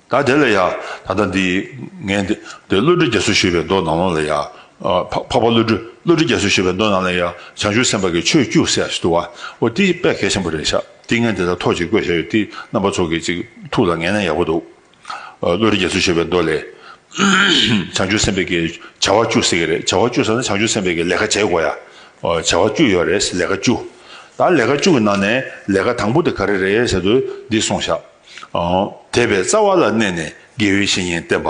ད་དེ་ལ་ཡ། ད་ལྟ་འདི། ངས་འདི། འདི་བློ་གྲོས་རྒྱ་མཚོས་ཞུས་པའི་མདོ་ནང་ལོགས་ལ་ཡ། འཕགས་པ་བློ་གྲོས། བློ་གྲོས་རྒྱ་མཚོས་ཞུས་པའི་མདོ་ནང་ལ་ཡ། བྱང་ཆུབ་སེམས་དཔའ་གི་ཆོས་བཅུ་གསལ་ཞེས་བསྡུ་བ། འོ་དེའི་དཔེ་གལ་ཆེན་པོ་རེ་ཆགས། འདི་ངས་འདི་ལྟར་ཐོག་གཅིག་བཀོད་བཞག་ཡོད་དེ། རྣམ་པ་ཚོ་གི་ཅིག་ཐུགས་ལ་ངེས་ན་ཡག་པོ་འདུག། བློ་གྲོས་རྒྱ་མཚོས་ཞུས་པའི་མདོ་ལས། བྱང་ཆུབ་སེམས་དཔའ་གི། བྱ་བ་བཅུ་ཟེར་གི་རེད། བྱ་བ་བཅུ་ཟེར་ན་བྱང་ཆུབ་སེམས་དཔའ་གི་ལས་ཀ་བྱེད་དགོས་ཡ། བྱ་བ་བཅུ་ཡོད་རེད། ལས་ཀ་བཅུ། ད་ལས་ཀ་བཅུ་གི་ནང་ནས་ལས་ཀ་དང་པོ་དེ་ག་རེ་རེད་ཟེར་དུས་འདི་གསུངས་བཞག། དད་པའི་རྩ་བ་ལ་གནས་ནས་དགེ་བའི་བཤེས་གཉེན་བསྟེན་པ།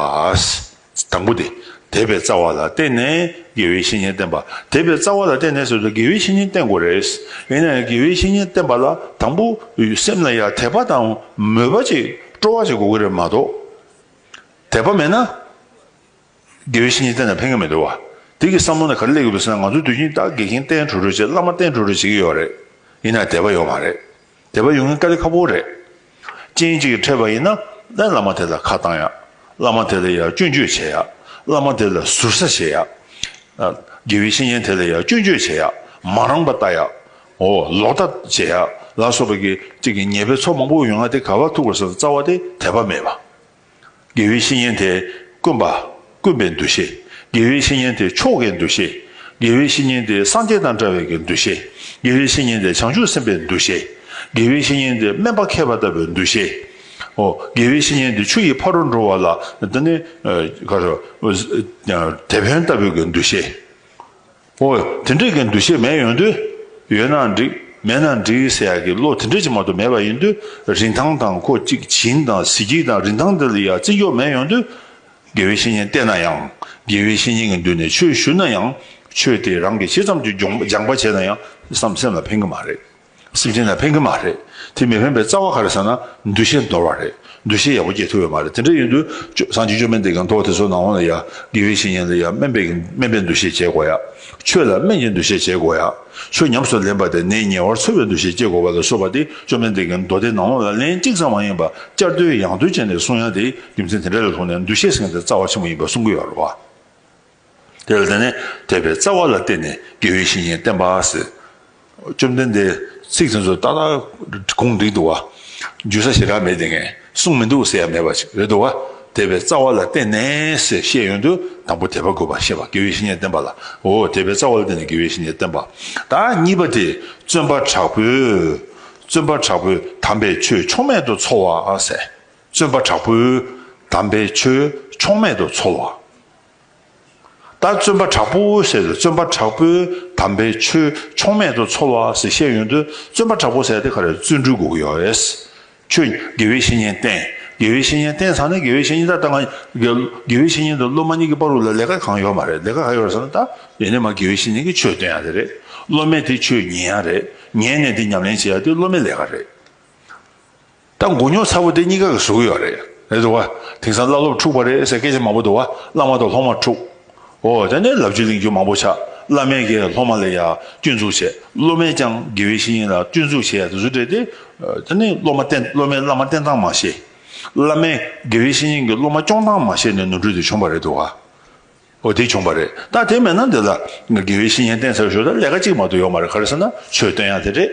དང་པོ་དེ། དད་པའི་རྩ་བ་ལ་བརྟེན་ནས་དགེ་བའི་བཤེས་གཉེན་བསྟེན་པ། དད་པའི་རྩ་བ་ལ་བརྟེན་ནས་སོ་སོ་དགེ་བའི་བཤེས་གཉེན་བསྟེན་དགོས་རེད། ཡིན་ནའང་དགེ་བའི་བཤེས་གཉེན་བསྟེན་པ་ལ་དང་པོ་སེམས་ལ་ཡང་དད་པ་དང་མོས་པ་ཅིག་སྤྲོ་བ་ཅིག་དགོས་ཀྱི་རེད་མ་གཏོགས། དད་པ་མེད་ན། དགེ་བའི་བཤེས་གཉེན་བསྟེན་ན་ཕན་གྱི་མི་འདུག་བ། དེ་གི་བསམ་བློ་ནི་ག་རེ་སླེབས་ཀྱི་འདུག་ཟེར་ན་ང་ཚོ་དུས་ཆེན་སྟག་དགེ་རྒན་བསྟེན་འགྲོ་འགྲོ་བྱེད་བླ་མ་བསྟེན་འགྲོ་འགྲོ་བྱེད་ཀྱི་ཡོད་རེད། ཡིན་ནའང་དད་པ་ཡོད་མ་རེད། དད་པ་ཡོང་ན་དཀའ་ལས་ཁག་པོ་རེད། སྤྱན་གཅིག་གིས་ཕྲད་པ་ཡིན་ན་ནས་བླ་མ་དེ་ལ་ཁ་བཏང་ཡག། བླ་མ་དེ་ལ་ཡག་སྐྱོན་བརྗོད་བྱེད་ཡག། བླ་མ་དེ་ལ་ཟུར་ཟ་བྱེད་ཡག། དགེ་བའི་བཤེས་གཉེན་དེ་ལ་ཡག་སྐྱོན་བརྗོད་བྱེད་ཡག། མ་རངས་པ་ལྟ་ཡག། འོ་ལོག་ལྟ་བྱེད་ཡག་ལ་སོགས་པ་གི་ཅིག་གི་ཉེས་པའི་ཚོགས་མང་པོ་ཡོང་ན་དེ་ག་བ་ཐུག་པ་སོགས་རྩ་བ་དེ་དད་པ་མེད་པ། དགེ་བའི་བཤེས་གཉེན་དེ་དཀོན་པ། དཀོན་པའི་འདུ་ཤེས། དགེ་བའི་བཤེས་གཉེན་དེ་མཆོག་གི་འདུ་ཤེས། དགེ་བའི་བཤེས་གཉེན་དེ་སངས་རྒྱས་དང་འདྲ་བའི་གི་འདུ་ཤེས། དགེ་བའི་བཤེས་གཉེན་དེ་བྱང་ཆུབ་སེམས་དཔའི་འདུ་ཤེས། དགེ་བའི་བཤེས་གཉེན་དེ་སྨན་པ་མཁས་པ་ལྟ་བུའི་འདུ་ཤེས། ཧོ། དགེ་བའི་བཤེས་གཉེན་དེ་ཆུ་ཡི་ཕ་རོལ་འགྲོ་བ་ལ། དེ་ནི། དེད་དཔོན་ལྟ་བུའི་གི་འདུ་ཤེས། ཨོ། དེ་འདྲ་གི་འདུ་ཤེས་མེད་ཡོང་དུས། ཡོད་ན་འགྲིག་མེད་ན་འགྲིག་ཟེར་ཡག་གི་བློ་དེ་འདྲ་ཅིག་མ་གཏོགས་མེད་པ་ཡིན་དུས། རིན་ཐང་དང་ཁོ་གཅིག་བྱིན་དང་གཟི་བརྗིད་དང་རིན་ཐང་དེ་ལ་ཡང་བརྩི་འཇོག་མེད་ཡོང་དུས། དགེ་བའི་བཤེས་གཉེན་བསྟེན་ན་ཡང། དགེ་བའི་བཤེས་གཉེན་གྱི་མདུན་ནས་ཆོས་ཞུ་ན་ཡང། ཆོས་དེ་རང་གིས་ཅི་ཙམ་གྱིས་སྦྱོང་སྦྱངས་པ་བྱས་ན་ཡང་བསམ་སེམས་ལ་ཕན་གི་མ་རེད། སེམས་ཅན་རྣམས་ཕན་གི་མ་རེད་དེ་མི་ཕན་པའི་རྩ་བ་ག་རེད་ཟེར་ན་འདུ་ཤེས་འདོར་བ་རེད་འདུ་ཤེས་ཡག་པོ་སྐྱེ་ཐུབ་ཡོད་མ་རེད་དེ་འདྲ་ཡིན་དུས་སང་ཅིག་ཅོ་སྨན་དེ་གང་ཐོག་དེ་ཚོ་ནང་འོང་ལ་ཡ་དགེ་བའི་བཤེས་གཉེན་ལ་ཡ་སྨན་པའི་སྨན་པའི་འདུ་ཤེས་བསྐྱེད་དགོས་ཡ་ཆོས་ལ་སྨན་གྱི་འདུ་ཤེས་བསྐྱེད་དགོས་ཡ་ཆོས་ཉམས་སུ་ལེན་པ་དེ་ནད་ཉེ་བར་འཚོ་བའི་འདུ་ཤེས་བསྐྱེད་དགོས་པ་ལ་སོགས་པ་དེ་ཅོ་སྨན་དེ་གའི་མདོ་སྡེ་ནང་འོང་ལ་ལན་གཅིག་ཙམ་མ་ཡིན་པ་བསྐྱར་ཟློས་ཡང་ཟློས་བྱས་ནས་གསུང་ཡ་དེ་རྒྱུ་མཚན་དེ་འདྲ་ལས་ལྷུང་ནས་འདུ་ཤེས་ཟེར་མཁན་དེ་རྩ་བ་ཆེན་པོ་ཡིན་པ་གསུང་གི་ཡོད་རེད་བ། དེ་ལ་ནི་དད་པའི་རྩ་བ་ལ་བརྟེན་ནས་དགེ་བའི་བཤེས་གཉེན་བསྟེན་པ་ཟེར། བཅོམ་ལྡན་འདས་ཚིག་དེ་ཚོ་ཏག་ཏག་གུང་བསྒྲིགས་འདུག་བ། འཇུ་ས་ཞེ་དྲག་མེད་དེ་ངས་གསུངས་མི་འདུག་ཟེར་ཡ་མེད་པ་ཞིག་རེད་འདུག་བ། དད་པའི་རྩ་བ་ལ་བརྟེན་ནས་ཟེར་བཤད་ཡོན་དུ་དང་པོ་དད་པ་དགོས་པར་བཤད་པ་དགེ་བའི་བཤེས་གཉེན་བསྟེན་པ་ལ་འོ་དད་པའི་རྩ་བ་ལ་བརྟེན་ནས་དགེ་བའི་བཤེས་གཉེན་བསྟེན་པ་ད་གཉིས་པ་དེ་བརྩོན་པ་དྲག་པོས་བརྩོན་པ་དྲག་པོས་དམ་པའི་ཆོས་ཕྱོགས་མེད་དུ་འཚོལ་བ་ཟེར། བརྩོན་པ་དྲག་པོས་དམ་པའི་ཆོས་ཕྱོགས་མེད་དུ་འཚོལ་བ། ལྟར་བརྩོན་པ་དྲག་པོ་ཟེར་ཏེ་བརྩོན་པ་དྲག་པོས་དམ་པའི་ཆོས་ཕྱོགས་མེད་དུ་འཚོ་བ་ཟེར་བཤད་ཡོན་ཏན་བརྩོན་པ་དྲག་པོ་ཟེར་ཏེ་ག་རེ་བརྩོན་འགྲུས་དགུག་ཡོད་རེད། ཁྱོད་དགེ་བའི་བཤེས་གཉེན་བསྟེན་དགེ་བའི་བཤེས་གཉེན་བསྟེན་ཚར་ན་དགེ་བའི་བཤེས་གཉེན་ད་ལྟ་ང་དགེ་བའི་བཤེས་གཉེན་དང་སློབ་མ་གཉིས་ཀྱི་བར་ལ་ལས་ཀ་གང་ཡོད་མ་རེད་ལས་ཀ་ག་ཡོད་རེད་ཟེར་ན་ད་ཡིན་ནས་མ་དགེ་བའི་བཤེས་གཉེན་གྱི་ཆོས་བསྟེན་ཡ་དེ་རེད་སློབ་མས་དེ་ཆོས་ཉན་ཡ་རེད་ཉན་ནས་དེ་ཉམས་ལེན་བྱེད་ཡ་དེ་སློབ་མའི་ལས་ཀ་རེད། ད་མགོ་རྙོག་ཚ་པོ་དེ་གཉིས་ཀ་གི་གཟུགས་ཡོད་རེད་རེད་འདུག་བ། དེང་སང་བླ་སློབ་འཁྲུགས་པ་རེད་ཟེར་སྐད་ཆ་མང་པོ་འདུག་བ་བླ་མ་དང་སློབ་མ་འཁྲུགས། འོ་ད་ནི་ལབ་རྒྱུ་གླེང་རྒྱུ་མང་པོ་ཆགས་བླ་མས་ཀྱང་སློབ་མ་ལ་ཡང་སྐྱོན་འཛུགས་བྱས་སློབ་མས་ཀྱང་དགེ་བའི་བཤེས་གཉེན་ལ་སྐྱོན་འཛུགས་བྱས་དེ་ཚོ་འདྲེས་ཏེ། ད་ནི་སློབ་མ་བསྟེན་སློབ་མས་བླ་མ་བསྟེན་སྟངས་མ་ཤེས། བླ་མས་དགེ་བའི་བཤེས་གཉེན་གྱིས་སློབ་མ་སྐྱོང་སྟངས་མ་ཤེས་ནས་ནོར་འཁྲུལ་དེ་བྱུང་བ་རེད་འདུག་བ། འོ་དེ་བྱུང་བ་རེད་ད་དེ་མེད་ན་འདི་ལ་དགེ་བའི་བཤེས་གཉེན་བསྟེན་ཚར་ཞོར་དུ་ལས་ཀ་གཅིག་མ་གཏོགས་ཡོག་མ་རེད་ག་རེ་ཟེར་ན་ཆོས་སྟོན་ཡ་དེ་རེད་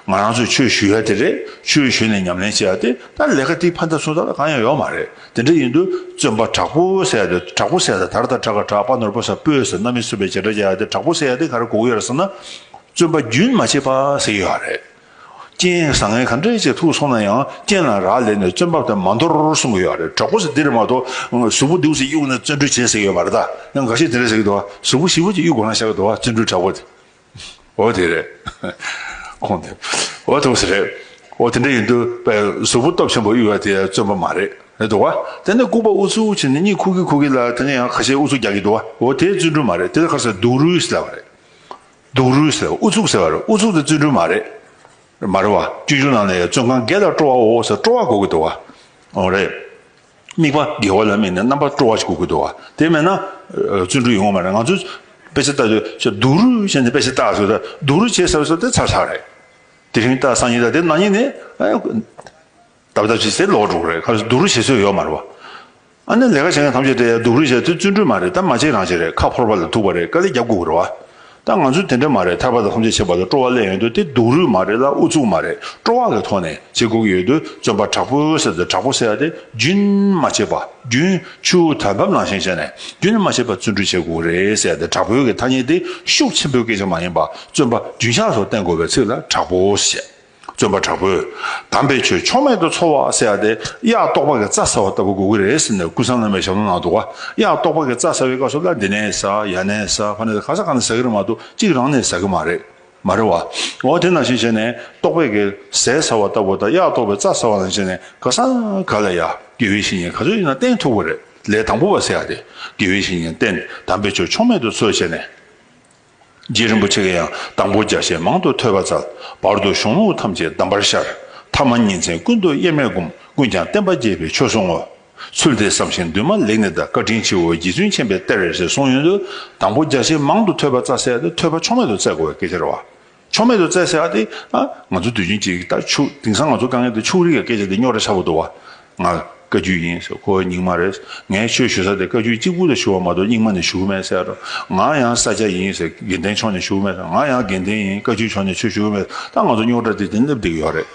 ང་རང་ཚོས་ཆོས་ཞུ་ཡ་དེ་རེད་ཆོས་ཞུས་ནས་ཉམས་ལེན་བྱེད་ཡ་དེ་ད་ལས་ཀ་དེ་ཕ་མཐའ་སུ་ད་ལ་གང་ཡང་ཡོག་མ་རེད་དེ་འདྲ་ཡིན་དུས་བཙོན་པ་དྲག་པོ་བསད་དེ་དྲག་པོ་བསད་ད་དར་དར་དྲག་ག་དྲག་པ་ནོར་པོ་ཟ་སྤོས་ཟ་གནའ་མི་གསོད་པའི་བྱེད་སྒྲ་བྱ་ཡ་དེ་དྲག་པོ་བསད་ཡ་དེ་ག་རེ་གོག་ཡོད་རེད་ཟེར་ན་བཙོན་པ་རྒྱུན་མ་ཆད་པ་བསད་ཡོད་རེད། རྐྱེན་བཟང་ངན་ག་འདྲའི་ཆེ་ཐུག་སོང་ན་ཡང་རྐྱེན་ལ་རག་ལས་ནས་བཙོན་པ་དེ་མ་འདོར་གསུང་གི་ཡོད་རེད་གྲོགས་པོ་ཚོ་འདིར་མ་གཏོགས་གཟུགས་པོ་འདིའུ་ཚོ་གཡུག་ན་བཙོན་གྲོལ་བྱེད་ཟེར་གྱི་ཡོད་མ་རེད་ད་ཡང་འགའ་ཤས་དེ་འདྲ་ཟེར་གྱི་འདུག་གཟུགས་པོ་ཞིབ་པོ་ཅིག་གཡུག་དགོས་ན་ཤ་གི་འདུག་བཙོན་གྲོལ་དྲག་པོ་དེ་འོ་དེ་རེད་ཁོང་དེ་འོ་ཐུག་ས་རེད་འོ་དེ་འདྲ་ཡིན་དུས་པས་གཟུགས་པོ་སྟོབས་ཆེན་པོ་གཡུག་ཡ་དེ་བཙོན་པ་མ་རེད་རེད་འདུག་བ་དེ་ནས་ལྐུགས་པ་འུ་ཚོའུ་ཆེ་ནས་གཉིད་ཁུག་གི་ཁུག་གི་ལ་དེ་ནས་ཡང་ག་ཤས་འུ་ཚོ་རྒྱག་གི་འདུག་བ་འོ་དེ་བཙོན་གྲོལ་མ་རེད་དེ་ལ་ཁར་ས་སྡུག་རུས་ལ་བ་རེད། སྡུག་རུས་ལ་ཨུ་ཚུགས་ཟེར་བ་རེད་ཨུ་ཚུགས་དེ་བརྩོན་འགྲུས་མ་རེད། མ་རེད་བ། བཅོས་སྒྱུར་ནང་ནས་བཙོན་ཁང་བརྒལ་ལ་སྤྲོ་བ་འོ་ཟེར་སྤྲོ་བ་གོ་གི་འདུག་བ། འོ་རེད། དམིགས་པ་བརྒལ་བ་ལ་དམིགས་ནས་རྣམ་པ་སྤྲོ་བ་ཞིག་གོ་གི་འདུག་བ། དེ་མེད་ན། བརྩོན་འགྲུས་ཡོད་ངོ་མ་རེད་ང་ཚོས། དཔེ་ཆ་བལྟ་དུས་ཁྱོད་སྡུག་རུས་བྱས་ནས་དཔེ་ཆ་བལྟ་ཟེར་ད་སྡུག་རུས་བྱས་ཟེར་བ་ཚོ་དེ་ཚར་ཚར་རེད། དེ་རིང་བལྟ་སང་ཉིན་བལྟ་དེ་ནང་ཉིན་ནས། ལྡབ་ལྡབ་ཅིག་ཟེར་ལོག་འགྲོ་གི་རེད་ཁ་བསྡུ་རུ་བྱེད་སྲོལ་ཡོད་མ་རེད་བ། ཨ་ནེ་ལས་ཀ་བྱེད་མཁན་ཐམས་ཅད་དེ་ཡར་ལྡུག་རུ་བྱེད་ཚུལ་བཙུན་གྲོལ་མ་རེད་ད་མ་བྱེད་རང་བྱེད་རེད་ཁ་ཕོར་པ་ལ་ཐུག་པ་རེད་དཀའ་ལས་རྒྱབ་དགོས་ཀྱི་རེད་བ། ད་ང་ཚོས་དེ་འདྲ་མ་རེད་ཐར་པ་དང་ཐམས་ཅད་བྱེད་པ་ལ་སྤྲོ་བ་གླན་ཡོད་དུས་དེ་ལྡུག་རུ་མ་རེད་ལ་ཨུ་ཚུགས་མ་རེད་སྤྲོ་བ་ལས་ཐོག་ནས་བྱེད་དགོས་ཀྱི་ཡོད་དུས་བཙོན་པ་དྲག་པོའི་གསེབ་ཏུ་དྲག་པོ་བསད་དེ་རྒྱུན་མ་ཆད་པ་རྒྱུན་ཆུ་དར་བབ་ནང་བཞིན་བྱས་ནས་རྒྱུན་མ་ཆད་པ་བཙོན་འཁྲུད་བྱེད་དགོས་ཀྱི་རེད་བསད་དེ་དྲག་པོའི་གི་ཐ་སྙད་དེ་ཤུགས་ཆེན་པོའི་སྐད་ཆ་མ་ཡིན་པ་བཙོན་པ་རྒྱུན་ཆགས་སུ་བསྟེན་དགོས་པའི་ཚིག་ལ་དྲག་པོ་བསད། བརྩོན་པ་དྲག་པོས་དམ་པའི་ཆོས་ཕྱོགས་མེད་དུ་འཚོ་བ་ཟེར་བ་དེ་གཡག་ལྟོགས་པ་གི་རྩྭ་ཟ་བ་ལྟ་བུ་དགོས་ཀྱི་རེད་ཟེར་ནས་སྐུ་སངས་རྣམ་པའི་ཞབས་ལོ་ནང་དུ་གཡག་ལྟོགས་པ་གི་རྩྭ་ཟ་བའི་བཀའ་སོགས་ལ་འདི་ནས་ཟ་ཡ་ནས་ཟ་ཕ་ནས་ག་ཟ་ག་ནས་ཟ་གི་རེད་མ་གཏོགས་གཅིག་རང་ནས་ཟ་གི་མ་རེད། མ་རེད་བ། འོ་དེ་ནང་བཞིན་བྱས་ནས་ལྟོགས་པས་གི་ཟས་ཟ་བ་ལྟ་བུ་དང་གཡག་ལྟོགས་པའི་རྩྭ་ཟ་བ་ནང་བྱས་ནས་ག་ཟ་ག་ལ་ཡ་དགེ་བའི་བཤེས་གཉེན་ག་ཚོད་ཡིན་ན་བསྟེན་ཐུབ་ཀྱི་རེད་ལས་དང་པོ་བ་ཟེར་བ་དེ་དགེ་བའི་བཤེས་གཉེན་བསྟེན་དམ་པའི་ཆོས་ཕྱོགས་མེད་དུ་འཚོས་བྱས་ནས། རྗེ་རིན་པོ་ཆེ་གི་ཡང་དང་པོ་བརྒྱ་བྱིན་མང་དུ་ཐོས་པ་བཙལ། བར་དུ་གཞུང་ལུགས་ཐམས་ཅད་གདམས་པར་ཤར། ཐ་མ་ཉིན་མཚན་ཀུན་ཏུ་དབྱེར་མེད་བསྒོམ་ཀུན་ཀྱང་བསྟན་པ་རྒྱས་པའི་ཆོས་བཟུང་ངོ། ཚུལ་དེ་བསམ་ཞིང་འདུན་མ་ལེགས་ནས་བདག་བཀའ་དྲིན་ཆེའོ་རྗེ་བཙུན་ཆེན་པའི་གཏེར་རེ་ཞེས་གསུངས་ཡོན་དུ་དང་པོ་བརྒྱ་བྱིན་མང་དུ་ཐོས་པ་བཙལ། ཐོས་པ་ཕྱོགས་མེད་དུ་བཙལ་དགོས་པའི་སྐལ་ཆེར་བ། ཕྱོགས་མེད་དུ་བཙལ་ཟེར་བ་དེ། ང་ཚོ་དུས་ཆེན་གཅིག་གི་ལྟར་ཕྱུག་དེང་སང་ང་ཚོ་དཀའ་ངལ་དེ་ཕྱུག་རིགས་ཀྱི་སྐད་ཆ་དེ་རྙོག་དྲ་ཆགས་པོ་འདུག་བ། ང། བཀའ་རྒྱུད་ཡིན་ཟེར་ཁོ་རྙིང་མ་རེད། ངས་ཆོས་ཞུ་ས་དེ་བཀའ་རྒྱུད་གཅིག་པུ་ལ་ཞུ་བ་མ་གཏོགས་རྙིང་མ་ནས་ཞུ་གི་མེད་ཟེར། ང་ཡང་ས་སྐྱ་ཡིན་ཟེར་དགེ་ལྡན་ཕྱོགས་ནས་ཞུ་གི་མེད་ཟེར་ང་ཡང་དགེ་ལྡན་ཡིན་བཀའ་རྒྱུད་ཕྱོགས་ནས་ཆོས་ཞུ་གི་མེད་ད་ང་ཚོ་རྙོག་དྲ་དེ་དེ་སླེབས་བསྡད་ཀྱི་ཡོད་རེད།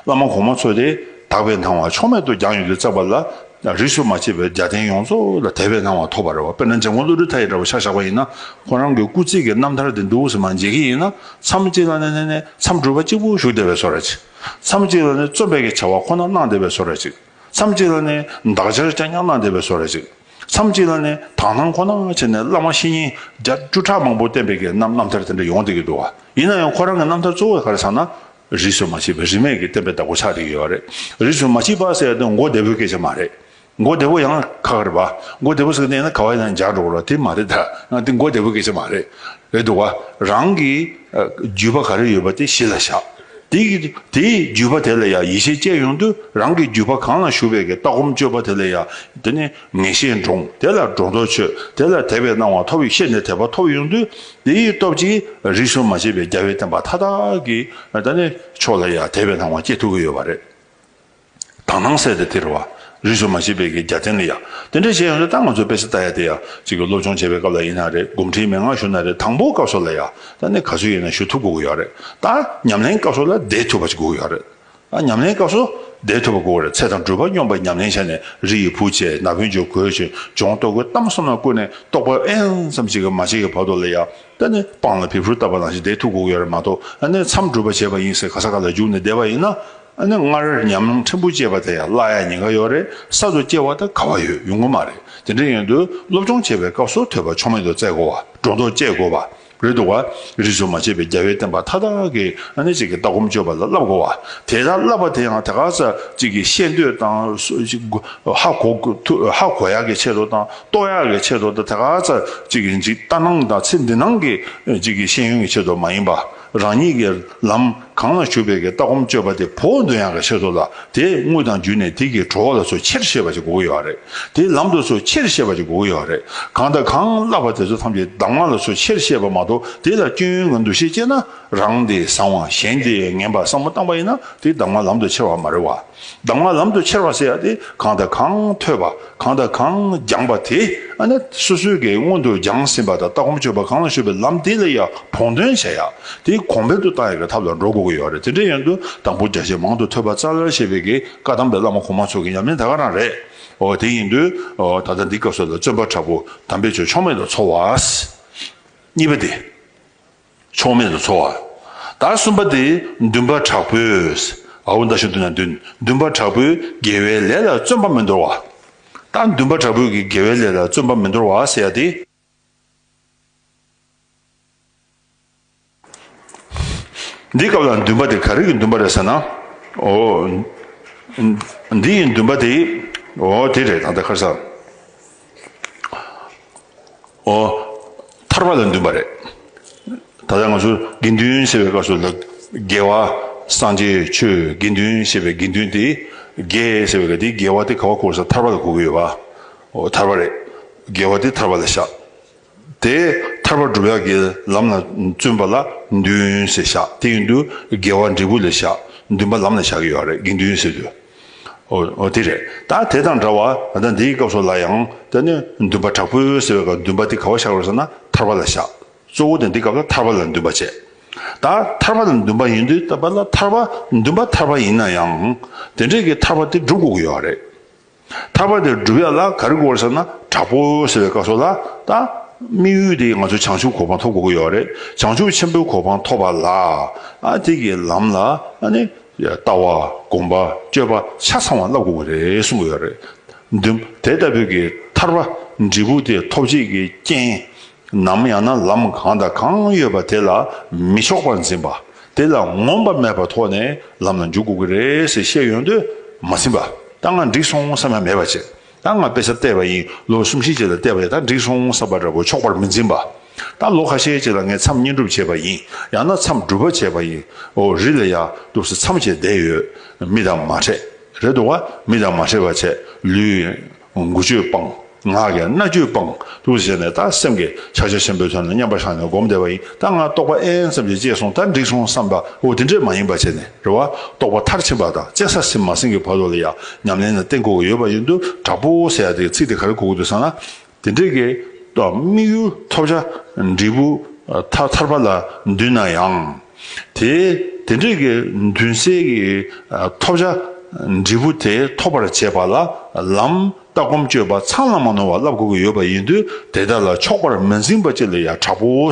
བླ་མ་གོང་མ་ཚོ་དེ། དག་པའི་སྣང་བ་ཕྱོགས་མེད་དུ་རྒྱང་ཡོད་དུ་བཙལ་བ་ལ། རིས་སུ་མ་ཆད་པའི་རྒྱལ་བསྟན་ཡོངས་རྫོགས་ལ་དད་པའི་སྣང་བ་ཐོབ་པར་རེ་བ། དཔེར་ན་མཛད་སྒོ་བློ་གྲོས་མཐའ་ཡི་དྲ་བ་ཆ་བཞག་པ་ཡིན་ན། ཁོང་རང་གི་སྐུ་ཚེ་གི་རྣམ་ཐར་དེ་འདུལ་བ་ཟིན་མ་མཇལ་གྱི་ཡིན་ན། མཚམས་གཅིག་ལ་ནི་མཚམས་སྒྲུབ་པ་གཅིག་པུ་བཞུགས་བདེ་བའི་བཟོ་ར་གཅིག། མཚམས་གཅིག་ལ་ནི་རྩོམ་པས་ཀྱི་བྱ་བ་ཁོ་ན་གནང་བདེ་བའི་བཟོ་ར་གཅིག། མཚམས་གཅིག་ལ་ནི་འདག་སྦྱར་བཅའ་ཉར་གནང་བདེ་བའི་བཟོ་ར་གཅིག། མཚམས་གཅིག་ལ་ནི་དག་སྣང་ཁོ་ན་བྱས་ནས་བླ་མ་བཤེས་གཉེན་བརྒྱ་བཅུ་ཕྲག་མང་པོ་བསྟེན་པས་ཀྱི་རྣམ་ཐར་དེ་འདྲ་ཡོང་བདེ་གི་འདུག་བ། ཡིན་ན་ཡང་ཁོ་རང་གི་རྣམ་ཐར་གཙོ་བོ་ག་རེ་ཟང་ན། རིས་སུ་མ་མཆིས་པའི་རིས་མེད་ཀྱི་བསྟན་པའི་བདག་པོ་ཆགས་འགྲིག་ཡོད་པ་རེད། རིས་སུ་མ་མཆིས་པ་ཟེར་ཡ་དེ་མགོ་བདེ་པོའི་སྐད་ཆ་མ་རེད། མགོ་བདེ་པོ་ཡང་ཁ་ཁར་བ། མགོ་བདེ་པོ་ཟེར་ནས་ན་ག་བ་ཡང་འཇགས་འགྲོ་གོ་དེ་མ་རེད་ད། དེ་མགོ་བདེ་པོའི་སྐད་ཆ་མ་རེད། རེད་འདུག་བ། རང་གི་རྒྱུད་པ་ག་རེ་ཡོད་པ་དེ་གཞི་ལ་བཞག། དེ་དེའི་རྒྱུད་པ་དེ་ལ་ཡང་ཡིད་ཆེས་བསྐྱེད་ཡོང་དུས་རང་གི་རྒྱུད་པ་གང་ལ་ཞུགས་པའི་ཀྱི་ལྟ་སྒོམ་སྤྱོད་པ་དེ་ལ་ཡང་དེ་ནི། ངེས་ཤེས་འདྲོངས། དེ་ལ་སྒྲོ་འདོགས་ཆོད། དེ་ལ་དད་པའི་སྣང་བ་མཐོ་བས་ཤེས་ནས་དད་པ་མཐོ་བ་ཡོང་དུས་དེ་ཡི་སྟོབས་ཀྱིས་རིགས་གསུམ་མ་ཕྱེད་པའི་རྒྱལ་བའི་བསྟན་པ་མཐའ་དག་གི་ད་ནི་ཕྱོགས་ལ་ཡང་དད་པའི་སྣང་བ་སྐྱེ་ཐུབ་ཀྱི་ཡོད་པ་རེད། དག་སྣང་གསལ་དེ་དེར་བ། རིགས་གསུམ་མ་ཕྱེད་པའི་གི་རྒྱ་བསྟན་ལ་ཡང་དེ་འདྲ་བྱས་ཡོང་དུས་ད་ང་ཚོ་དཔེ་གསར་ལྟ་ཡ་དེ་ཡང་གཅིག་གི་སློབ་སྦྱོང་བྱེད་པའི་སྐབས་ལ་ཡིན་ན་རེད་སྒོམ་ཁྲིའི་མན་ངག་ཞུ་ན་རེད་དང་པོ་སྐབས་སོགས་ལ་ཡང་ད་ནི་ག་ཚོད་ཡིན་ན་ཞུ་ཐུབ་དགོས་ཀྱི་ཡོད་རེད་ད། ཉམས་ལེན་སྐབས་སོགས་ལ་བསྡད་ཐུབ་པ་ཅིག་དགོས་ཀྱི་ཡོད་རེད། ཉམས་ལེན་སྐབས་སུ་བཟླས་ཐུབ་པ་དགོས་རེད་ཚེ་དང་སྦྲུལ་པ་སྙོམས་པར་ཉམས་ལེན་བྱས་ནས་རི་ཡི་བུ་བཅས་ན་བུན་ཆུ་གོས་ཆོས་འབྱུང་ལྟོ་གོས་གཏམ་གསུམ་ལ་བསྐུར་ནས་རྟོགས་པ་ཨེན་ཙམ་གཅིག་གི་མ་བྱས་ཀྱི་བར་དོ་ལ་ཡ་ད་ནི་སྤང་ལ་བེ་ཕུར་བཏབ་པ་ནང་བཞིན་བཟླས་ཐུབ་དགོས་ཀྱི་རེད་མ་གཏོགས་ནས་མཚམས་སྦྲུལ་པ་བྱས་པ་ཡིན་ཟེར་ག་ས་ག་ལ་བརྒྱུགས་ནས་བསྡད་པ་ཡིན་ན་ནི་སྔར་ཉམས་ལེན་ཕྲན་བུ་བྱས་པ་དེ་ཡང་བླ་ཡག་ཉེས་ཁ་ཡོད་རེད་གསར་དུ་སྐྱེ་བ་དང་ག་བ་ཡོད་ཡོང་གི་མ་རེད་དེ་འདྲ་ཡིན་དུས་སློབ་སྦྱོང་བྱེད་པའི་སྐབས་སུ་ཐོས་པ་ཆོ་མེད་དུ་བཙལ་དགོས་བ་སྒྲོ་འདོགས་བཅད་དགོས་བ། རོལ་དུ་བ། རིས་སུ་མ་ཆད་པའི་རྒྱལ་བའི་བསྟན་པ་མཐའ་དག་གི་གནད་གཅིག་གི་ལྟ་སྒོམ་སྤྱོད་པ་ལ་བསླབ་དགོས་བ། དེ་ལྟར་བསླབ་པ་དེ་ཡང་དེ་ག་ས་གཅིག་གིས་ཤེས་འདོད་དང། ཧ་གོ་ཧ་གོ་ཡག་གི་ཆེད་དུ་དང་རྟོགས་ཡག་གི་ཆེད་དུ་དང་དེ་ག་ས་གཅིག་གིས་འཇིག་ལྟ་སྣང་དང་ཚེ་འདི་སྣང་གི་གཅིག་གིས་ཤེས་ཡོན་གྱི་ཆེད་དུ་མ་ཡིན་པ། རང་ཉིད་ཀྱི་ལམ་གང་ལ་ཞུགས་པའི་གི་ལྟ་སྒོམ་སྤྱོད་པ་དེ་བོག་འདོན་ཡང་གི་ཤེས་སོ་ལ་དེས་དངུལ་དང་བརྒྱུད་ནས་དེ་གི་གྲོགས་ལ་སོ་ཕྱིར་ཤེས་པ་ཅིག་དགོས་གི་ཡོད་རེད་དེས་ལམ་དུ་སོ་ཕྱིར་ཤེས་པ་ཅིག་དགོས་གི་ཡོད་རེད་གང་དང་གང་བསླབ་པ་དེ་ཚོ་ཐམས་ཅད་གདམས་ངག་ལ་སོ་ཕྱིར་ཤེས་པ་མ་གཏོགས་དེ་ལ་སྐྱོན་ཡོན་གི་འདུ་ཤེས་སྐྱེས་ན་རང་དེ་བཟང་བ་གཞན་དེ་ངན་པ་བསམ་བློ་བཏང་པ་ཡིན་ན་དེ་གདམས་ངག་ལམ་དུ་ཁྱེར་བ་མ་རེད་བ། གདམས་ངག་ལམ་དུ་ཁྱེར་བ་ཟེར་ཏེ་གང་དང་གང་ཐོས་པ་གང་དང་གང་སྦྱངས་པ་དེ་ནི་སོ་སོའི་གའི་སྔོན་དུ་སྦྱངས་ཟིན་པ་དང་ལྟ་སྒོམ་སྤྱོད་པ་གང་ལ་གཞོལ་བའི་ལམ་དེ་ལ་ཡང་བོགས་འདོན་བྱ་ཡག་དེ་གོང་འཕེལ་དུ་བཏང་ཡག་གི་ཐབས་ལ་འགྲོ་དགོས་ཀྱི་ཡོད་རེད་དེ་འདྲའི་ཡོན་དུ་དང་པོ་རྒྱ་ཆེ་མང་དུ་ཐོས་པ་ཙཱ་ལར་བཤད་པའི་གའི་བཀའ་གདམས་པའི་བླ་མ་གོང་མ་ཚོ་གི་ཉམས་ལེན་ད་ག་རང་རེད་ཨོ་དེ་ཡིན་དུས་ད་ལྟ་འདི་སྐབས་སུ་ལ་བརྩོན་པ་དྲག་པོ་དམ་པའི་ཆོས་ཕྱོགས་མེད་དུ་འཚོ་བ་གཉིས་པ་དེ། ཕྱོགས་མེད་དུ་འཚོ་བ། དང་གསུམ་པ་དེ་འདུན་པ་དྲག་པོས། ཨའུ་མདའ་ཤུ་དུ་ན་འདུན། འདུན་པ་དྲག་པོས་དགེ་བའི་ལས་ལ་བརྩོན་པ་མི་འདོར་བ། དང་འདུན་པ་དྲག་པོས་ཀྱི་དགེ་བའི་ལས་ལ་བརྩོན་པ་མི་འདོར་བ་ཟེར་ཡ་སྟེ། འདིའི་སྐབས་ལ་འདུན་པ་དེ་ག་རིགས་ཀྱི་འདུན་པ་རེད་ཟེར་ན། ཨོ། འདི་ཡི་འདུན་པ་དེ། ཨོ་དེ་རེད་ད་ལྟ་ཁར་ས། ཨོ། ཐར་པ་ལ་འདུན་པ་རེད། ད་ལྟ་ང་ཚོ་དགེ་འདུན་ཞེས་པའི་སྐབས་སུ་རྒྱལ་བ་སངས་རྒྱས་ཆོས་དགེ་འདུན་ཞེས་པའི་དགེ་འདུན་དེ་རྒྱལ་ཞེས་པའི་དེ་རྒྱལ་བ་དེ་ག་བ་གོ་ས་ཐར་པ་ལ་གོ་གི་ཡོད་པ། ཨོ་ཐར་པ་རེད། རྒྱལ་བ་དེ་ཐར་པ་ལ་བཞག། དེ་ཐར་པ་བསྒྲུབ་ཡག་གི་ལམ་ལ་བརྩོན་པ་ལ་འདུན་ཞེས་བཞག་དེ་ཡིན་དུ་རྒྱལ་བ་འབྲས་བུ་ལ་བཞག་འདུན་པ་ལམ་ལ་བཞག་གི་ཡོད་རེད་དགེ་འདུན་ཟེར་དུས། འོ་དེ་རེད། ད་དེ་དང་འདྲ་བར་ད་འདིའི་སྐབས་སོགས་ལ་ཡང་ད་ནི་འདུན་པ་དྲག་པོའི་ཟེར་བའི་སྐབས་འདུན་པ་དེ་ག་བ་བཞག་རོགས་ཟེར་ན་ཐར་པ་ལ་བཞག། གཙོ་བོ་ད་འདི་སྐབས་ལ་ཐར་པ་ལ་འདུན་པ་བྱེད། ད་ཐར་པ་ལ་འདུན་པ་ཡིན་དུས་ད་བར་ལ་ཐར་པ་འདུན་པ་ཐར་པ་ཡིན་ན་ཡང་དེ་འདྲས་ཀྱི་ཐར་པ་དེ་སྒྲུབ་དགོས་ཀྱི་ཡོད་རེད། ཐར་པ་དེ་སྒྲུབ་ཡག་ལ་ག་རེ་དགོས་ཟེར་ན་དྲག་པོ་ཟེར་བའི་སྐབས་སོགས་ལ་ད་དམིགས་ཡུལ་དེ་ང་ཚོས་བྱང་ཆུབ་གོ་འཕང་ཐོབ་དགོས་ཀྱི་ཡོད་རེད་བྱང་ཆུབ་ཆེན་པོའི་གོ་འཕང་ཐོབ་པ་ལ་ཨ་དེ་ཀྱི་ལམ་ལ་ཨ་ནི། ལྟ་བ། གོམས་པ། སྤྱོད་པ་ཆ་ཚང་བ་བསླབ་དགོས་པ་རེད་གསུངས་ཡོད་རེད་དེ། དེ་ལྟ་བུའི་གི་ཐར་པ་འབྲས་བུ་དེ་ཐོབ་བྱེད་ཀྱི་རྐྱེན་ནམ་ཡང་ན་ལམ་གང་དང་གང་ཡོད་པ་དེ་ལ་མི་ཕྱོགས་པར་འཛིན་པ། དེ་ལ་ངོམས་པ་མེད་པར་ཐོག་ནས་ལམ་ལ་འཇུག་དགོས་ཀྱི་རེད་ཟེར་བཤད་ཡོང་དུས་མ་ཟིན་པ་ད་ང་འགྲིག་སོང་བསམ་ཡ་མེད་པ་བྱས། ད་ང་དཔེ་ཆ་བལྟས་པ་ཡིན་ལོ་གསུམ་བཞི་བཅས་ལ་བལྟས་པ་ཡིན་ད་འགྲིག་སོང་བསམ་པ་འདྲ་བོ་ཆོག་པར་མི་འཛིན་པ། ད་ལོ་ཁ་ཤས་བཅས་ལ་ངས་མཚམས་བསྙེན་སྒྲུབ་བྱས་པ་ཡིན་ཡང་ན་མཚམས་སྒྲུབ་པ་བྱས་པ་ཡིན་འོ་རི་ལ་ཡག་འདུག་ཟེར་མཚམས་བཅད་བསྡད་ཡོད་མི་དང་མ་འཕྲད་རེད་འདུག་ག་མི་དང་མ་འཕྲད་པ་བྱས་ལུས། མགུ་སྤྱོད་སྤང། ངག་གི་རྣ་སྤྱོད་སྤང་འདུག་བྱས་ནས་ད་སེམས་ཀྱི་ཆག་ཆག་ཆེན་པོའི་དོན་ལ་མཉམ་པར་བཞག་ནས་སྒོམ་བསྡད་པ་ཡིན་ད་ང་རྟོགས་པ་ཨེན་ཙམ་ཞིག་སྐྱེས་སོང་ད་འགྲིག་སོང་བསམ་པ་འོ་དེ་འདྲས་མ་ཡིན་པ་བྱས་ནས། རེ་བ། རྟོགས་པ་མཐར་ཕྱིན་པ་དང་བཅས་ས་ཟིན་མ་ཟིན་གྱི་བར་དུ་ལ་ཡང་ཉམས་ལེན་ལ་བརྟེན་དགོས་ཀྱི་ཡོད་པ་ཡིན་དུས་དྲག་པོ་ཟེར་ཡག་དེའི་ཚིག་དེ་ག་རེ་གོ་གི་འདུག་ཟེར་ན། དེ་འདྲའི་གི། དམིགས་ཡུལ་ཐོབ་བྱ། འབྲས་བུ། ཐར་ཐར་པ་ལ་འདུས་ན་ཡང། དེ། དེ་འདྲའི་གི་མདུན་བསལ་གྱི། ཐོབ་བྱ། འབྲས་བུ་དེ་ཐོབ་པར་བྱེད་པ་ལ། ལམ། ལྟ་སྒོམ་སྤྱོད་པ་ཚང་ལ་མ་ནོར་བ་བསླབ་དགོས་ཀྱི་ཡོད་པ་ཡིན་དུས་དེ་དག་ལ་ཕྱོགས་པར་མི་འཛིན་པ་གཅིག་ལ་ཡང་དྲག་པོ།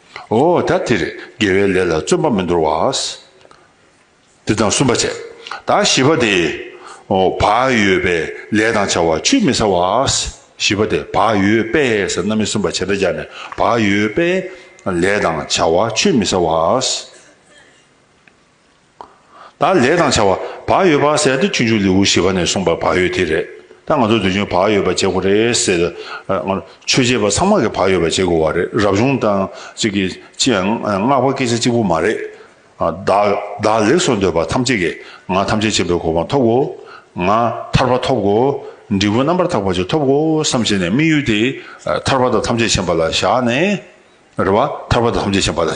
འོ་ད་དེར་དགེ་བའི་ལས་ལ་བརྩོན་པ་མི་འདོར་བ། འདི་དང་གསུམ་པ་བྱས། ད་བཞི་པ་དེ། བག་ཡོད་པས་ལས་དང་བྱ་བ་ཆུད་མི་ཟ་བ། བཞི་པ་དེ་བག་ཡོད་པས་ཟེར་ན་མི་གསུམ་པ་བྱས་པས་སྦྱར་ནས་བག་ཡོད་པས་ལས་དང་བྱ་བ་ཆུད་མི་ཟ་བ། དང་ལས་དང་བྱ་བ། བག་ཡོད་བག་ཟད་འདི་ཆུང་ཆུང་ལེའུ་བཞི་པ་ནས་གསུངས་པ་བག་ཡོད་དེ་རེད། ད་ང་ཚོ་འདོད་ཆུང་བག་ཡོད་པ་བྱེད་དགོས་རེད་ཟེར། ཆོས་བྱེད་པ་ཚང་མ་གི་བག་ཡོད་པ་བྱེད་དགོས་བ་རེད་རབ་བྱུང་དང་ཅིག་གི་ཅི་ཡང་བསྔགས་པ་སྐད་ཆ་གཅིག་པོ་མ་རེད། བདག་ལེགས་སོ་འདོད་པ་ཐམས་ཅད་ཀྱི་ང་ཐམས་ཅད་ཆེན་པོའི་གོ་འཕང་ཐོབ་གོ། ང་ཐར་པ་ཐོབ་གོ། འབྲས་བུ་རྣམ་པར་དག་པ་ཅིག་ཐོབ་གོ་བསམ་བྱས་ནས་དམིགས་ཡུལ་དེ་ཐར་པ་དང་ཐམས་ཅད་མཁྱེན་པ་ལ་བཞག་ནས། རེ་བ་ཐར་པ་ཐམས་ཅད་བྱིན་པ་ལ་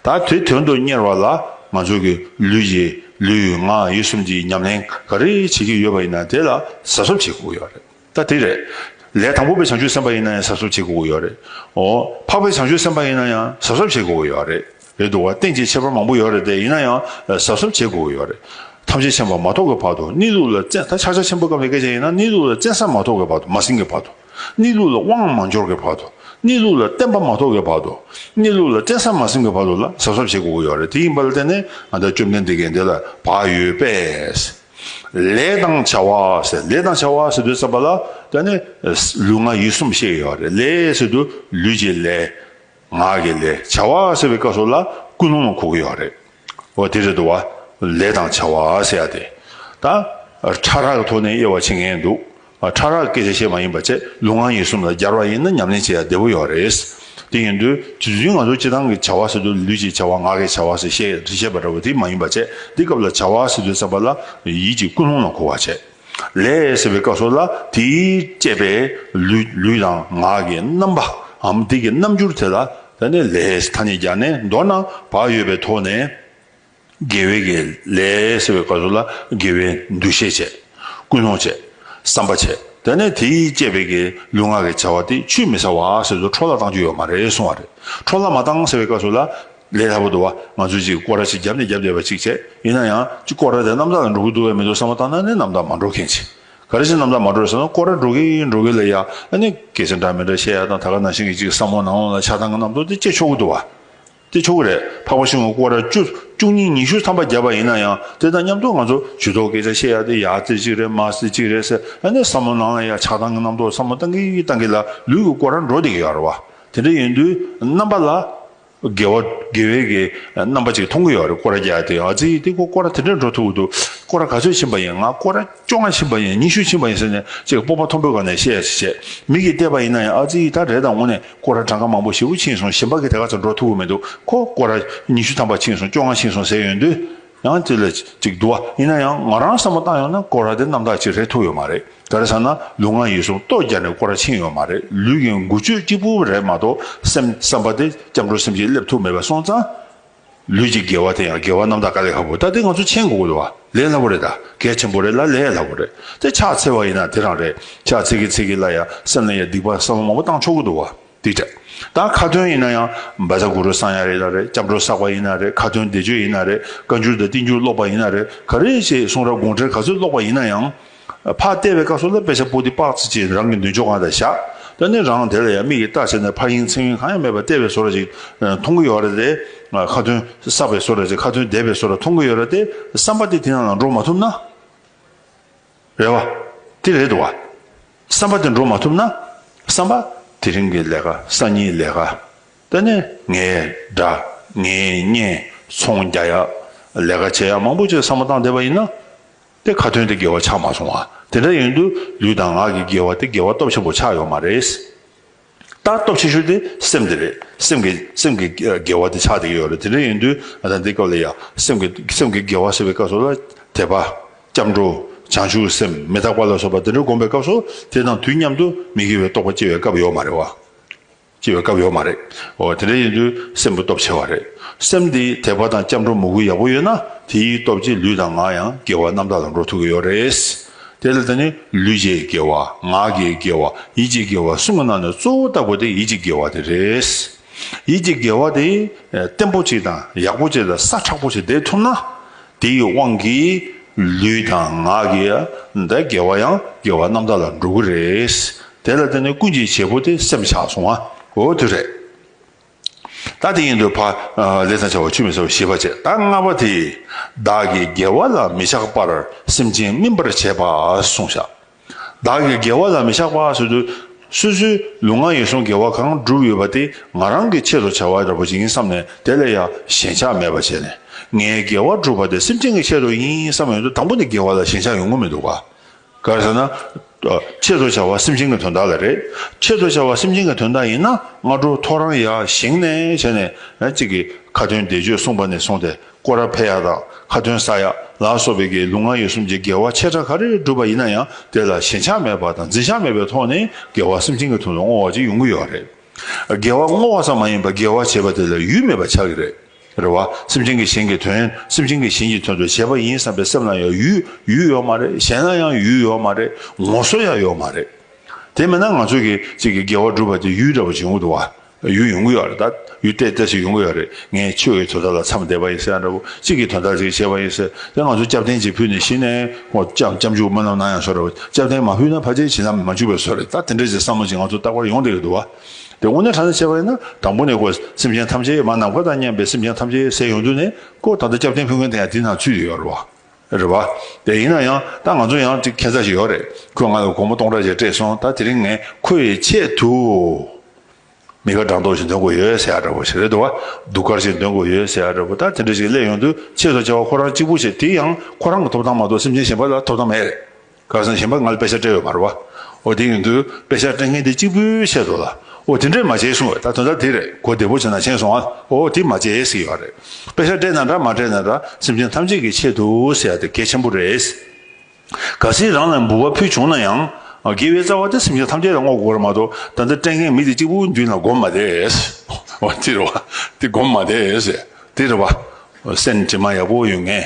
བྱ། ད་དེ་དོན་དུ་གཉེར་བ་ལ་ང་ཚོ་གི་ལུས་ཀྱི་ལུས་ངག་ཡིད་གསུམ་གྱི་ཉམས་ལེན་ག་རེ་བྱེད་ཀྱི་ཡོད་པ་ཡིན་ན་དེ་ལ་གཟབ་གཟབ་བྱེད་དགོས་ཀྱི་ཡོད་རེད་ད་དེ་རེད། ལས་དང་པོ་པའི་བྱང་ཆུབ་སེམས་དཔའ་ཡིན་ན་ཡང་གཟབ་གཟབ་བྱེད་དགོས་ཀྱི་ཡོད་རེད། འོ་འཕགས་པའི་བྱང་ཆུབ་སེམས་དཔའ་ཡིན་ན་ཡང་གཟབ་གཟབ་བྱེད་དགོས་ཀྱི་ཡོད་རེད་རེད་འདུག་བ་རྟེན་ཅིག་ཁྱད་པར་མང་པོ་ཡོད་རེད་དེ་ཡིན་ན་ཡང་གཟབ་གཟབ་བྱེད་དགོས་ཀྱི་ཡོད་རེད། ཐམས་ཅད་ཤེས་པ་མ་ཐོབ་ཀྱི་བར་དུ་གནས་ལུགས་ལ་བཙན་ད་ཕྱག་རྒྱ་ཆེན་པོ་སྐབས་ལས་སྐད་ཆ་ཡིན་ན་གནས་ལུགས་ལ་བཙན་ས་མ་ཐོབ་ཀྱི་བར་དུ་མ་ཟིན་གྱི་བར་དུ། གནས་ལུགས་ལ་དབང་མ་འབྱོར་གྱི་བར་དུ། གནས་ལུགས་ལ་བསྟན་པ་མ་ཐོབ་ཀྱི་བར་དུ། གནས་ལུགས་ལ་བཙན་ས་མ་ཟིན་གྱི་བར་དུ་ལ་གཟབ་གཟབ་བྱེད་དགོས་ཀྱི་ཡོད་རེད་དེ་ཡིན་པ་ལ་བརྟེན་ནས་ང་ཚ་བཅོམ་ལྡན་འདས་ཀྱིས་འདི་ལ་བག་ཡོད་པས། ལས་དང་བྱ་བ་ཟེར་ལས་དང་བྱ་བ་ཟེར་དུས་བསམ་པ་ལ་བརྟེན་ནས་ལུས་ངག་ཡིད་གསུམ་བཤད་ཀྱི་ཡོད་རེད་ལས་ཟེར་དུས་ལུས་ཀྱི་ལས། ང་གི་ལས་བྱ་བ་ཟེར་བའི་སྐབས་སུ་ལ་ཀུན་སློང་ལ་གོ་གི་ཡོད་རེད། འོ་དེ་རེད་འདུག་བ། ལས་དང་བྱ་བ་ཟེར་ཡ་དེ། ད། ཕྲ་རགས་ཐོག་ནས་དབྱེ་བ་ཕྱེ་ངེས་འདུག་ཕྲ་རགས་སྐད་ཆ་བཤད་མ་ཡིན་པ་བཅས་ལུས་ངག་ཡིད་གསུམ་ལ་སྦྱར་བ་ཡིན་ན་ཉམས་ལེན་བྱེད་ཡ་བདེ་བོ་ཡོད་རེད། དེ་ཡིན་དུས་དུས་ཚུན་ང་ཚོ་སྤྱི་བཏང་གི་བྱ་བ་ཟེར་དུས་ལུས་ཀྱི་བྱ་བ་ངག་གི་བྱ་བ་ཟེར་བཤད་བཤད་པ་འདྲ་བོ་དེ་མ་ཡིན་པ་བཅས་འདི་སྐབས་ལ་བྱ་བ་ཟེར་དུས་བསམ་པ་ལ་ཡིད་ཀྱི་ཀུན་སློང་ལ་གོ་བ་བྱེད། ལས་ཟེར་བའི་བཀའ་སྲོལ་ལ་དེའི་བཅས་པའི་ལུས་དང་ངག་གི་རྣམ་པའམ་དེ་གི་རྣམ་འགྱུར་དེ་ལ་བརྟེན་ནས་ལས་ཐ་སྙད་སྦྱར་ནས་མདོར་ན་བག་ཡོད་པའི་ཐོག་ནས། དགེ་བའི་གེགས་ལས་ཟེར་བའི་བཀའ་སྲོལ་ལ་དགེ་བའི་འདུ་ཤེས་བྱས། ཀུན་སློང་བྱས། བསམ་པ་བྱས་དེ་ནས་དེའི་བཅས་པའི་གི་ལུས་ངག་གི་བྱ་བ་དེ་ཆུད་མི་ཟ་བ་ཟེར་དུ་འཕྲོ་བརླག་བཏང་རྒྱུ་ཡོད་མ་རེད་གསུང་བ་རེད་འཕྲོ་བརླག་མ་བཏང་ཟེར་བའི་བཀའ་སྲོལ་ལ་ལས་སླ་པོ་འདུག་བ། ང་ཚོས་ཅིག་སྐོར་ར་ཞིག་རྒྱབ་ནས་རྒྱབ་བསྡད་པ་ཅིག་བྱས། ཡིན་ན་ཡང། ཅིག་སྐོར་ར་དེ་གནམ་བདག་ལ་འགྲོ་གི་འདུག་བས་མི་འདུག་བསམ་བློ་བཏང་ན་ནི་གནམ་བདག་མ་འགྲོ་མཁན་ཅིག། ག་རེ་ཞིག་གནམ་བདག་མ་འགྲོ་ཟེར་ན་སྐོར་ར་འགྲོ་གི་འགྲོ་གི་ལས་ཡག་ཨ་ནི། གལ་སྲིད་འདྲ་མི་འདྲ་བཤད་ཡག་དང་ད་ག་ནང་བཞིན་གྱི་ཅིག་བསམ་བློ་ནང་བླངས་ལ་ཆགས་སྡང་གི་གནམ་ཐོག་དེ་སྐྱེ་ཆོག་གི་འདུག་བ། སྐྱེ་ཆོག་གི་རེད། འཕགས་པ་ཤིང་བའི་སྐོར་ར་བཅུ། བཅུ་གཉིས་ཉི་ཤུ་ཐམ་པ་བརྒྱབ་པ་ཡིན་ན་ཡང་དེ་དང་མཉམ་དུ་ང་ཚོ་ཇུས་ཏོག་སྐད་ཆ་བཤད་ཡག་དེ་ཡག་རྩེ་གཅིག་རེད་མ་རྩེ་གཅིག་རེད་ཟེར་ཨ་ནི་བསམ་བློ་ནང་བླངས་ཡ་ཆགས་སྡང་གི་གནམ་ཐོག་བསམ་བློ་བཏང་གི་གཏང་གི་ལ་ལུས་ཀྱི་སྐོར་ར་འགྲོ་བསྡད་ཀྱི་ཡོད་རེད་བ། དེ་འདྲ་ཡིན་དུས། གནམ་པ་ལ། དགེ་བ་དགེ་བའི་གེ་རྣམ་པ་ཅིག་མཐོང་གི་ཡོད་རེད་སྐོར་རྒྱག་དེ་ཨ་ཙི་འདི་སྐོར་ར་དེ་འདྲ་འགྲོ་ཐུབ་འདུག་སྐོར་ར་ག་ཚོད་ཕྱིན་པ་ཡིན་ང་སྐོར་ར་བཅོ་ལྔ་ཕྱིན་པ་ཡིན་ཉི་ཤུ་ཕྱིན་པ་ཡིན་ཟེར་ནས་ཅིག་སྤོབས་པ་མཐོན་པོའི་སྒང་ནས་བཤད་ཡ་ཞིག་བྱས་མིག་གིས་བལྟས་པ་ཡིན་ན་ཡང་ཨ་ཙི་ད་རེས་ད་ངོ་ནས་སྐོར་ར་གྲངས་ཀ་མང་པོ་ཞེ་དགུ་ཕྱིན་སོང་ཞིམ་པ་གི་དེ་ག་ཚོད་འགྲོ་ཐུབ་གི་མི་འདུག་གོ་སྐོར་ར་ཉི་ཤུ་ཐམ་པ་ཕྱིན་སོང་བཅོ་ལྔ་ཕྱིན་སོང་ཟེར་ཡོད་འདུག། ཡང་དེ་ལ་ཅིག་བསྡུ་བ་ཡིན་ན་ཡང་ང་རང་བསམ་བློ་བཏང་ཡོང་ན་སྐོར་ར་དེ་རྣམ་དག་ཅིག་རེད་ཐུག་ཡོད་མ་རེད་ག་རེ་ཟེར་ན་ལུས་ངག་ཡིད་གསུམ་ལྟོ་རྒྱ་ནས་སྐོར་ར་ཕྱིན་ཡོད་མ་རེད་ལུས་ཀྱི་འགུལ་སྤྱོད་གཅིག་པུ་རེད་མ་གཏོགས་སེམས་བསམ་པ་དེ་སྐྱབས་འགྲོ་སེམས་ཀྱིས་སླེབས་ཐུབ་མེད་པ་སོང་ཙང། ལུས་ཀྱི་དགེ་བ་དེ་ཡང་དགེ་བ་རྣམ་དག་ག་ལེ་ཧ་བོ་ད་དེ་ང་ཚོ་མཆན་འགོ་དགོས་ལ་ལས་སླ་བོ་རེད་ད་གལ་ཆེན་པོ་རེད་ལ་ལས་སླ་བོ་རེད་དེ་ཕྱག་འཚལ་བ་ཡིན་ན་དེ་རང་རེད་ཕྱག་འཚལ་གི་འཚལ་གི་ལ་ཡང་སེམས་ལ་ཡང་སྡིག་པ་བསམ་བློ་མང་པོ་བཏང་ཆོག་གི་འདུག་བ། འདི་དྲ་བདག་ཁ་ཏོན་ཡིན་ན་ཡང་འབའ་ས་གུ་རུ་བསང་ཡ་རེད་ན་རེད་སྐྱབས་འགྲོ་བསགས་པ་ཡིན་ན་རེད་ཁ་ཏོན་བདེ་སྤྱོད་ཡིན་ན་རེད་བཀའ་འགྱུར་དང་བསྟན་འགྱུར་ཀློག་པ་ཡིན་ན་རེད་ག་རེ་བྱས་གསུང་རབ་དགོངས་འགྲེལ་ག་ཚོད་ཀློག་པ་ཡིན་ན་ཡང། ཕ་ལྟེ་བའི་བཀའ་སྲོལ་ལ་དཔེ་ཆ་པོ་ཏི་དཔག་ཚད་ཅིག་རང་གི་མདུན་ཅོག་གང་དང་བཞག་ད་ནི་རང་དེ་ལ་ཡང་མིག་གིས་བལྟ་བྱས་ནས་ཕ་ཡིན་མཚན་ཡིན་གང་ཡང་མེད་པར་ལྟེ་བའི་བཟོ་ར་ཅིག་མཐོང་གི་ཡོད་རེད་དེ། ཁ་ཏོན་བསགས་པའི་བཟོ་ར་ཅིག་ཁ་ཏོན་བདེ་བའི་བཟོ་ར་མཐོང་གི་ཡོད་རེད་དེ་བསམ་པ་དེ་དེ་ནང་ལ་འགྲོ་མ་ཐུབ་ན། རེད་བ། དེ་རེད་བ། བསམ་པ་དེ་འགྲོ་མ་ཐུབ་ན། བསམ་པ། དེ་རིང་གི་ལས་ཀ་སང་ཉིན་ལས་ཀ། ད་ནི་ངའི་དགྲ། ངའི་གཉེན། ཚོང་རྒྱག་ཡག། ལས་ཀ་བྱེད་ཡག་མང་པོ་བྱེད་བསམ་བློ་བཏང་བསྡད་པ་ཡིན་ན། དེ་ཁ་ཐོན་དེ་དགེ་བ་ཆགས་མ་སོང་བ། དེ་འདྲ་ཡིན་དུས་ལུས་དང་ངག་གི་དགེ་བ་དེ་དགེ་བ་སྟོབས་ཆེན་པོ་ཆགས་ཡོད་མ་རེད། ལྟ་སྟོབས་ཆེ་ཤོས་དེ་སེམས་དེ་རེད། སེམས་ཀྱི་སེམས་ཀྱི་དགེ་བ་དེ་ཆགས་བསྡད་ཀྱི་ཡོད་རེད། དེ་འདྲ་ཡིན་དུས་ང་ཚ་འདི་སྐབས་ལ་ཡ། སེམས་ཀྱི་སེམས་ཀྱི་དགེ་བ་ཟེར་བའི་སྐབས་སུ་ལ། དད་པ། སྐྱབས་འགྲོ། བྱང་ཆུབ་སེམས་མི་རྟག་པ་ལ་སོགས་པ་དེ་འདྲ་བསྒོམ་པའི་སྐབས་སུ་དེ་དང་དུས་མཉམ་དུ་མི་དགེ་བའི་རྟོག་པ་སྐྱེ་བའི་སྐབས་ཡོད་མ་རེད་བ། སྐྱེ་བའི་སྐབས་ཡོད་མ་རེད། འོ་དེ་འདྲ་ཡིན་དུས་སེམས་ཀྱི་སྟོབས་ཆེ་བ་རེད། སེམས་དེ་དད་པ་དང་སྐྱབས་འགྲོ་མོས་གུས་ཡག་པོ་ཡོད་ན་དེའི་སྟོབས་ཀྱིས་ལུས་དང་ངག་ཡང་དགེ་བ་རྣམ་དག་ལ་འགྲོ་ཐུབ་ཀྱི་ཡོད་རེད། དེ་ལ་དེ་ནི་ལུས་བརྒྱའི་དགེ་བ་ངག་གི་དགེ་བ་ཡིད་ཀྱི་དགེ་བ་གསུམ་གྱི་ནང་ནས་གཙོ་བོ་ལྟ་བུ་དེ་ཡིད་ཀྱི་དགེ་བ་དེ་རེད། ཡིད་ཀྱི་དགེ་བ་དེ་བརྟན་པོ་ཅིག་དང་ཡག་པོ་ཅིག་ལ་ས་ཁྲག་པོ་ཞིག་འདེབས་ཐུབ་ན། དེའི་དབང་གིས་ལུས་དང་ངག་གི་དགེ་བ་ཡང་དགེ་བ་རྣམ་དག་ལ་འགྲོ་གི་རེད། དེ་ལ་དེ་ནི་ཀུན་གྱི་བྱེད་པོ་དེ་སེམས་ཆགས་སོང་བའོ་དེ་རེད། ད་དེ་ཡིན་དུ་བ་ལས་དང་བྱ་བ་ཆུད་མི་ཟ་བའི་ཤེས་པ་བྱེད་ད་ལྔ་པ་དེས་བདག་གི་དགེ་བ་ལ་མི་ཆགས་པར་སེམས་ཅན་སྨིན་པར་བྱེད་པ་གསུངས། བདག་གི་དགེ་བ་ལ་མི་ཆགས་པ་སོ་དུ་སོ་སོའི་ལུས་ངག་ཡིད་གསུམ་དགེ་བ་གང་བསྒྲུབས་ཡོད་པ་དེ་ང་རང་གི་ཆེད་དུ་བྱ་བ་འདྲ་པོ་ཡིན་བསམ་ནས་དེ་ལས་ཡང་ཞེན་ཆགས་མེད་པར་བྱས་ནས་ངའི་དགེ་བ་བསྒྲུབས་པ་དེ་སེམས་ཅན་གྱི་ཆེད་དུ་ཡིན་བསམ་ཡོད་དོ་དང་པོ་ནི་དགེ་བ་ལ་ཞེན་ཆགས་ཡོང་གི་མི་འདུག་ག་གང་ཟེར་ན། ཆེད་དུ་བྱ་བ་སེམས་ཅན་གྱི་དོན་དག་ལ་རེད། ཆེད་དུ་བྱ་བ་སེམས་ཅན་གྱི་དོན་དག་ཡིན་ན་སྔ་དྲོ་ཐོ་རངས་ཡར་བཞེངས་ནས་བྱས་ནས་གཅིག་གིས་ཁ་ཏོན་བཟླས་བརྗོད་གསུངས་པ་ནས་བཟུང་སྟེ་སྐོར་ར་འཕེལ་ཡག་དང་ཁ་ཏོན་ས་ཡག་ལ་སོགས་པའི་དགེ་ལུགས་ལྔ་ཡོད་གསུམ་གྱི་དགེ་བ་ཆེ་ཕྲ་ག་རེ་བསྒྲུབས་པ་ཡིན་ན་ཡང་དེ་ལ་ཞེན་ཆགས་མེད་པ་དང་འཛིན་ཆགས་མེད་པའི་ཐོག་ནས་དགེ་བ་སེམས་ཅན་གྱི་དོན་དུ་བསྔོ་བ་ཅིག་ཡོང་གི་ཡོད་རེད། དགེ་བ་བསྔོ་བ་ཙམ་མ་ཡིན་པར་དགེ་བ་བྱེད་པ་དེ་ལ་ཡུལ་མེད་པ་ཆགས་ཀྱི་རེད། རེད་བ། སེམས་ཅན་གྱི་གཞན་གྱི་དོན་སེམས་ཅན་གྱི་གཞན་གྱི་དོན་དུ་བྱས་པ་ཡིན་བསམ་པའི་སེམས་ལ་ཡང་ཡུལ་ཡུལ་ཡོད་མ་རེད་གཞན་ལ་ཡང་ཡུལ་ཡོད་མ་རེད་ངོ་སོ་ཡང་ཡོད་མ་རེད། དེ་མེད་ན་ང་ཚོ་གི་ཅིག་གི་དགེ་བ་བསྒྲུབ་པ་དེ་ཡུལ་འདྲ་བོ་བྱུང་གི་འདུག་བ། ཡུལ་ཡོང་གི་ཡོད་རེད་ད། ཡུལ་གཏད་གཏད་ཞིག་ཡོང་གི་ཡོད་རེད་ངས་ཆོས་ཀྱི་དོ་ཟླ་ལ་མཚམས་བསྡད་པ་ཡིན་ཟེར་ཡང་འདྲ་བོ་ཅིག་གི་དོན་དག་ཅིག་བྱས་པ་ཡིན་ཟེར་དེ་ང་ཚོ་སྐྱབས་རྟེན་ཅིག་ཕུལ་ནས་གཞི་ནས་ཁོང་སྐྱབས་སྐྱབས་འཇུག་མ་རྣམས་ན་ཡང་བཟོ་རེད་བ་སྐྱབས་རྟེན་མ་ཕུལ་ན་ཕ་རྗེས་བྱིན་ན་མ་འཇུག་པའི་བཟོ་རེད་ད་དེ་འདྲ་ཅིག་བསམ་བློ་ཅིག་ང་ཚོ་རྟག་པར་ཡོང་བསྡད་ཀྱི་འདུག་བ། དེ་དངོས་གནས་གང་ནས་བྱས་པ་ཡིན་ན་དང་པོ་ནས་ཀོ་སེམས་ཅན་ཐམས་ཅད་མ་ནམ་མཁའ་དང་མཉམ་པའི་སེམས་ཅན་ཐམས་ཅད་གསལ་ཡོང་དུས་ནས་ཀོ་ད་ལྟ་སྐྱབས་བསྟེན་ཕུལ་མཁན་དེ་ཡང་དེ་དང་ཚུད་ཡོད་རེད་བ། རེད་བ། དེ་ཡིན་ན་ཡང་ད་ང་ཚོ་ཡང་ཁྱད་མཚར་ཞིག་ཡོད་རེད་ཁོས་ང་ལ་སྒོར་མོ་སྟོང་ཕྲག་བརྒྱ་སྤྲད་སོང་ད་དེ་རིང་ངས་ཁོ་ཡི་ཆེད་དུ་མི་ཁ་གྲངས་མདོག་ཞིག་འདོན་དགོས་ཡོད་ཟེར་ཡ་རེད་བ་ཞིག་རེད་དོ་བ་སྡུག་སྐར་ཞིག་འདོན་དགོས་ཡོད་ཟེར་ཡ་རེད་བ་ད་དེ་འདྲ་ཞིག་སླེབས་ཡོང་དུས་ཆེས་ཐོག་ཆེ་བ་ཁོ་རང་གཅིག་པུ་བྱས་དེ་ཡང་ཁོ་རང་གི་ཐོབ་ཐང་མ་གཏོགས་སེམས་ཅན་གཞན་པ་ལ་ཐོབ་ཐང་མེད་རེད། ཁ་སང་གཞན་པ་ང་ལ་དཔེ་ཆ་སྤྲད་ཡོད་པར་བ་འོ་དེ་ཡིན་དུས་དཔེ་ཆ་སྤྲད་མཁན་དེ་གཅིག་པུའི་ཆེད་དུ་ལ་འོ་དེ་འདྲས་མ་བྱེད་གསུང་བས་ད་དོན་དག་དེ་རེད་གོ་བདེ་པོ་བྱས་ན་ཆེན་སོང་ང་ལ་འོ་དེ་མ་བྱེད་ཟེར་གྱི་ཡོད་རེད་དཔེ་ཆ་སྤྲད་ན་འདྲ་མ་སྤྲད་ན་འདྲ་སེམས་ཅན་ཐམས་ཅད་ཀྱི་ཆེད་དུ་ཟེར་ཡ་དེ་གལ་ཆེན་པོ་རེད། གལ་སྲིད་རང་ལ་འབུལ་བ་ཕུལ་བྱུང་ན་ཡང་དགེ་བའི་རྩ་བ་དེ་སེམས་ཅན་ཐམས་ཅད་ལ་བསྔོ་དགོས་རེད་མ་གཏོགས་ད་ལྟ་སྤྲད་མཁན་མི་དེ་གཅིག་པུའི་མདུན་ལ་སྒོམ་མ་བསྡད་འོ་དེ་རེད་བ་དེ་སྒོམ་མ་བསྡད་དེ་རེད་བ་སེམས་དྲི་མ་ཡག་པོ་ཡོད་མཁན་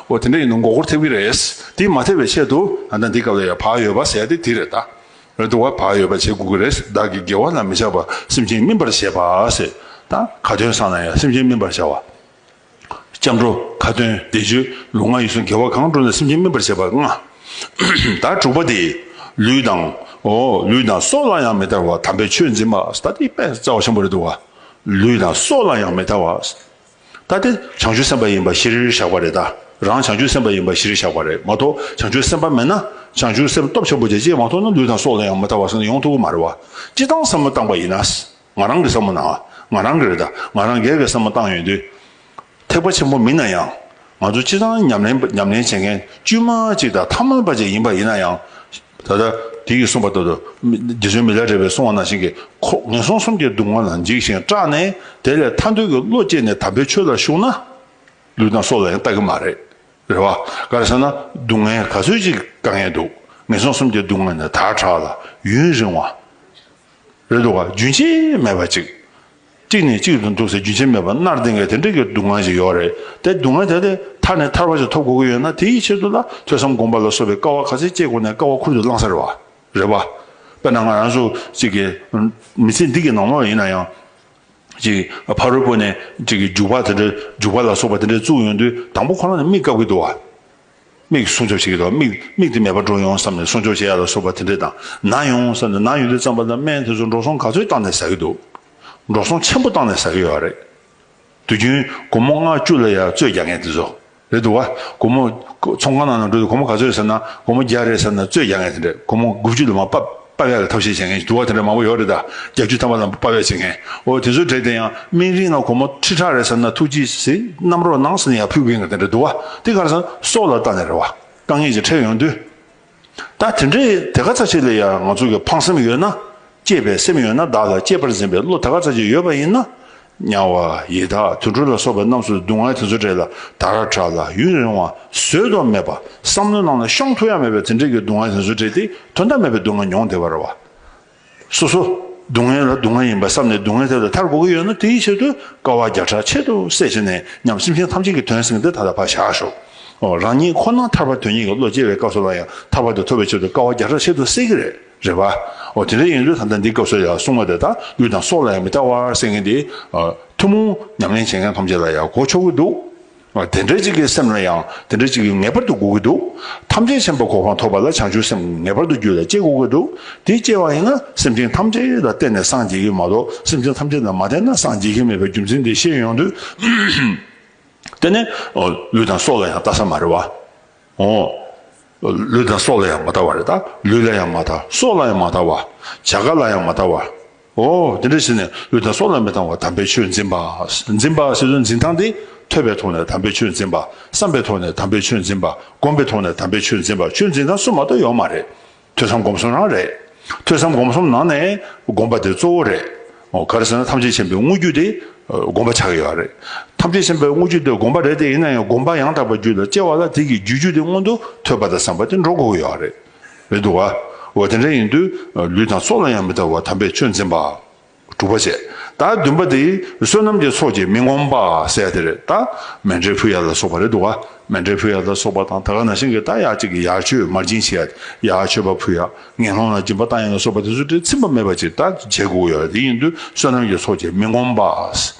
འོ་དེ་འདྲ་ཡིན་ན་མགོ་སྐོར་ཐེབས་ཀྱི་རེད། དེ་མ་ཐེབས་པའི་ཆེད་དུ་ད་ལྟ་འདི་སྐབས་ལ་ཡང་བག་ཡོད་པ་ཟེར་ཏེ་དེ་རེད་ད། འོད་དུ་བ་བག་ཡོད་པ་བྱེད་དགོས་ཀྱི་རེད་བདག་གིས་དགེ་བ་ལ་མི་བྱ་བར་སེམས་ཅན་སྨིན་པར་བྱེད་པ་ཟེར་ད། ག་དོན་བསགས་ན་ཡང་སེམས་ཅན་སྨིན་པར་བྱ་བ། སྐྱབས་འགྲོ་ཁ་ཏོན་བཟླས་བརྗོད་ལུས་ངག་ཡིད་གསུམ་དགེ་བ་གང་བསྒྲུབས་ན་སེམས་ཅན་སྨིན་པར་བྱེད་པར་མངའ། ད་དྲུག་པ་དེ། ལུས་དང། འོ་ལུས་དང་སྲོག་ལ་ཡང་མི་ལྟ་བར་དམ་པའི་ཆོས་འཛིན་པ་ད་དེ་དཔལ་རྩ་བ་ཆེན་པོ་རེད་དོ། ལུས་དང་སྲོག་ལ་ཡང་མི་ལྟ་བར། ད་དེ་བྱང་ཆུབ་སེམས་དཔའ་ཡིན་པ་གཞིར་བཞག་པ་རེད་ད་རང་བྱང་ཆུབ་སེམས་དཔའ་ཡིན་པ་གཞིར་བཞག་པ་རེད་མ་གཏོགས་བྱང་ཆུབ་སེམས་དཔའ་མེད་ན་བྱང་ཆུབ་སེམས་སྟོབས་ཆེན་པོ་དེ་ཅིས་མ་ཐོབ་ན་ལུས་དང་སྲོག་ལ་ཡང་མི་ལྟ་བར་སོང་ན་ཡོང་ཐུབ་ཀྱི་མ་རེད་བ་ཅི་སྟངས་བསམ་བློ་བཏང་པ་ཡིན་ན་ང་རང་གི་བསམ་བློ་ནང་ང་རང་གི་རེད་ད་ང་རང་སྒེར་གྱི་བསམ་བློ་བཏང་ཡོད་དུས་ཐེག་པ་ཆེན་པོ་མིན་ན་ཡང་ང་ཚོ་སྤྱི་བཏང་ཉམས་ལེན་བྱེད་མཁན་དཀྱུས་མ་གཅིག་དང་ཐ་མལ་པ་གཅིག་ཡིན་པ་ཡིན་ན་ཡང། ད་ལྟ་དེ་གིས་གསུངས་པ་ལྟར་དུ། རྗེ་བཙུན་མི་ལ་བྲེ་བས་བསྲུང་བ་ནང་བཞིན་གྱི་ཁོག་ངན་སོང་གསུམ་གྱི་སྡུག་བསྔལ་ལ་འཇིགས་ཤིང་སྐྲག་ནས་དེ་ལས་ཐར་འདོད་ཀྱི་བློ་སྐྱེས་ནས་དམ་པའི་ཆོས་ལ་ཞུགས་ན། ལུས་དང་སྲོག་ལ་ཡང་ལྟ་གི་མ་རེད། རེད་བ། ག་རེ་ཟེར་ན་སྡུག་བསྔལ་ག་ཚོད་ཅིག་དཀའ་ངལ་འདུག་ངན་སོང་གསུམ་གྱི་སྡུག་བསྔལ་ནི་དར་དྲགས་ལ་ཡུན་རིང་བ། རེད་འདུག་ག་རྒྱུན་ཆད་མེད་པ་ཅིག་གཅིག་ནས་གཅིག་ཏུ་འདུག་སའི་རྒྱུ་ཆ་མེད་པར་གནར་འདེང་བའི་དེ་འདྲ་གི་སྡུག་བསྔལ་ཞིག་ཡོད་རེད་དེ་སྡུག་བསྔལ་དེ་ལས་ཐར་ནས་ཐར་བ་ཞིག་ཐོབ་དགོས་ཀྱི་ཡོད་ན་དེ་ཡི་ཆེད་དུ་ལ་ཐོས་བསམ་སྒོམ་པ་ལ་སོགས་པའི་དཀའ་བ་ག་ཚད་སྤྱད་དགོས་ནས་དཀའ་བ་ཁུར་དུ་བླངས་ས་རེད་བ་རེད་བ། དཔེར་ན་ང་རང་སུ་གཅིག་གི་མི་ཚེ་འདི་གི་ནང་མོ་ཡིན་ན་ཡང། གཅིག་ཕ་རོལ་པོ་ནས་གཅིག་གི་རྒྱུག་པ་དེ་འདྲ་རྒྱུག་པ་ལ་སོགས་པ་དེ་འདྲ་བཙུགས་ཡོང་དུས་དང་པོ་ཁོ་རང་ནས་མིག་བཀབ་ཀྱི་འདུག་བ། མིག་སྲུང་སྐྱོབ་བྱེད་ཀྱི་འདུག་མིག་མིག་དེ་མེད་པར་འགྲོ་ཡོང་བསམ་ནས་སྲུང་སྐྱོབ་བྱེད་ཡ་ལ་སོགས་པ་དེ་འདྲས་དང་ན་ཡོང་བསམ་ནས་ན་ཡོང་དུས་རྩམ་པ་དང་སྨན་དེ་ཚོ་འགྲོ་སོང་ག་ཚོད་བཏང་ནས་ཟ་གི་འདུག་འགྲོ་སོང་ཆེན་པོ་བཏང་ནས་ཟ་གི་ཡོད་རེད་དུས་རྒྱུན་དགོང་མོ་ལྔ་བཅུ་ལ་ཡར་བཙོས་རྒྱག་མཁན་དེ་ཚོ་རེད་འདུག་དགོང་མོ་ཚོང་ཁང་ནང་ནས་འགྲོ་དུས་དགོང་མོ་ག་ཚོད་ཟེར་ན་དགོང་མོ་བརྒྱ་རེད་ཟེར་ན་བཙོས་རྒྱག་མཁན་དེ་འདྲས་དགོང་མོ་དགུ་བཅུ་ལ་མ་བབས། དཔའ་བོའི་ལ་ཐབས་ཤེས་བྱེད་མཁན་གྱི་དུ་བ་དེ་འདྲ་མང་པོ་ཡོད་རེད་ད། རྒྱལ་རྒྱུད་དམ་པ་དང་པོ་དཔའ་བོས་བྱེད་མཁན། འོ་དེ་ཚོའི་གྲས་དེ་ཡང་སྨན་རིའི་ནང་གོར་མོ་ཁྲི་ཕྲག་རེ་ཟེར་ན་ཐུགས་རྗེས་གཟིགསརྣམ་རོགས་གནང་ཟེར་ནས་ཡང་ཕུལ་གི་ཡིན་ག་དེ་འདྲ་དུ་བ་དེ་གར་སོང་སྲོག་ལ་བཏགས་ནས་རེ་བ་དཀའ་ངལ་གྱིས་ཁྲེལ་ཡོང་དུས། ད་དེ་འདྲའི་དེ་ག་ཚ་ཆེ་ལས་ཡང་ང་ཚོ་གི་ཕངས་སེམས་ཡོད་ན། གཅེས་པའི་སེམས་ཡོད་ན་བདག་ལ་གཅེས་པར་འཛིན་པའི་བློ་དེ་ག་ཚ་ཆེ་ཡོད་པ་ཡིན་ན། དམྱལ་བ་ཡི་དྭགས་དུད་འགྲོ་ལ་སོགས་པ་རྣམས་སུ་སྡུག་བསྔལ་དེ་ཚོ་བྲལ་ལ་དར་ར་དྲག་ལ་ཡུན་རིང་བ་བཟོད་དོ་མེད་པ་བསམ་མནོ་གནང་ལ་ཤོང་ཐུགས་ཡ་མེད་པའི་དེ་འབྲེལ་གྱི་སྡུག་བསྔལ་དེ་ཚོ་བྲལ་ཏེ་དོན་དམ་མེད་པའི་སྡུག་བསྔལ་མྱོང་བདེ་བར་བ། སོ་སོ་སྡུག་བསྔལ་ལ་སྡུག་བསྔལ་ཡིན་པར་བསམ་ནས་སྡུག་བསྔལ་དེ་ལ་མཐར་དགོ་གི་ཡོད་ན་དེའི་ཕྱིར་དུ་དཀའ་བ་བརྒྱ་ཕྲག་ཕྱེད་དུ་བསད་བྱས་ནས་ཉམས་སེམས་ཤིང་ཐམས་ཅད་ཀྱི་དོན་བསྲིངས་ཏེ་ད་ལྟ་བར་བཞག་ཤོག་རང་ཉིད་ཁོ་ན་ཐར་བར་དོན་གཉིས་ཀྱི་བློ་སྐྱེ་བའི་སྐབས་སུ་ལ་ཡང་ཐར་བར་དུ་ཐོབ་པའི་ཕྱིར་དུ་དཀའ་བ་བརྒྱ་ཕྲག་ཕྱེད་དུ་བསད་ཀྱི་རེད། རེད་བ། འོ་དེ་འདྲ་ཡིན་དུས་ད་ལྟ་འདི་སྐབས་སུ་ཡང་སྲུང་མ་དེ་དག་ལུས་དང་སྲོག་ལ་ཡང་མི་ལྟ་བར་བསད་མཁན་དེ། ཐུན་མོང་ཉམས་ལེན་བྱེད་མཁན་ཐམས་ཅད་ལ་ཡང་གོ་ཆོག་གི་འདུག། དེ་འདྲ་ཅིག་གི་སེམས་ལ་ཡང་དེ་འདྲ་ཅིག་གིས་ངེས་པར་དུ་སྒུག་གི་འདུག། ཐམས་ཅད་མཁྱེན་པ་གོ་འཕང་ཐོབ་པ་ལ་བྱང་ཆུབ་སེམས་ངེས་པར་དུ་རྒྱུད་ལ་སྐྱེ་དགོས་ཀྱི་འདུག་དེ་སྐྱེ་བ་ཡིན་ན་སེམས་ཅན་ཐམས་ཅད་ལ་བརྟེན་ནས་སངས་རྒྱས་ཀྱི་མ་གཏོགས་སེམས་ཅན་ཐམས་ཅད་ལ་མ་བརྟེན་ན་སངས་རྒྱས་ཀྱི་མེད་པའི་རྒྱུ་མཚན་དེ་ཤེས་ཡོང་དུས། དེ་ནས། ལུས་དང་སྲོག་ལ་ཡང་ལྟ་ས་མ་རེད་བ། ཨོ། ལུས་དང་སྲོག་ལ་ཡང་མ་ལྟ་བ་རེད་ད། ལུས་ལ་ཡང་མ་ལྟ། སྲོག་ལ་ཡང་མ་ལྟ་བ། བྱ་དགའ་ལ་ཡང་མ་ལྟ་བ། ཨོ། དེ་འདྲ་བྱས་ནས་ལུས་དང་སྲོག་ལ་མི་ལྟ་བར་དམ་པའི་ཆོས་འཛིན་པ། འཛིན་པ་ཞེས་སོགས་འཛིན་སྟངས་འདི་ཐོས་པའི་ཐོག་ནས་དམ་པའི་ཆོས་འཛིན་པ། བསམས་པའི་ཐོག་ནས་དམ་པའི་ཆོས་འཛིན་པ། བསྒོམས་པའི་ཐོག་ནས་དམ་པའི་ཆོས་འཛིན་པ་ཆོས་འཛིན་སྟངས་གསུམ་མ་གཏོགས་ཡོད་མ་རེད། ཐོས་བསམ་སྒོམ་གསུམ་རང་རེད། ཐོས་བསམ་སྒོམ་གསུམ་ནང་ནས་སྒོམ་པ་དེ་གཙོ་བོ་རེད། ག་རེ་ཟེར་ན་ཐམས་ཅད་མཁྱེན་པའི་དངོས་བརྒྱུད་དེ་སྒོམ་པ་ཆགས་ཀྱི་ཡོད་རེད། ཐམས་ཅད་མཁྱེན་པའི་དངོས་བརྒྱུད་དེ་སྒོམ་པ་རེད་དེ་ཡིན་ན་ཡང་སྒོམ་པ་ཡང་དག་པ་རྒྱུད་ལ་སྐྱེ་བ་ལ་དེ་གི་རྒྱུ་རྒྱུད་དེ་མངོན་དུ་ཐོས་པ་དང་བསམ་པ་དེ་འགྲོ་དགོས་ཀྱི་ཡོད་རེད། རེད་འདུག་ག། འོ་དེ་འདྲ་ཡིན་དུས་ལུས་དང་སྲོག་ལ་ཡང་མི་ལྟ་བར་དམ་པའི་ཆོས་འཛིན་པ། གྲུབ་པར་བྱེད། ད་བདུན་པ་འདི་བསོད་ནམས་ཀྱི་ཚོགས་ཀྱིས་མི་ངོམས་པ་གསལ་ཏེ་རེད་ད། མན་ཏྲའི་ཕུ་ཡ་ལ་སོགས་པ་རེད་འདུག་ག། མན་ཏྲའི་ཕུ་ཡ་ལ་སོགས་པ་དང་ད་ག་ན་ཤིང་གི་རྟ་ཡ་གཅིག་གི་ཡར་མཆོད་མར་སྦྱིན་བྱེད་ཡ་སྟེ་ཡ་མཆོད་པ་ཕུ་ཡ། ངན་སློང་ལ་སྦྱིན་པ་རྟ་ཡན་ལ་སོགས་པ་དེ་ཚོ་དེ་ཚིམ་པ་མེད་པ་ཅིག་ད་བྱེད་དགོས་ཀྱི་ཡོད་རེད་དེ་ཡིན་དུས་བསོད་ནམས་ཀྱི་ཚོགས་ཀྱིས་མི་ངོམས་པ།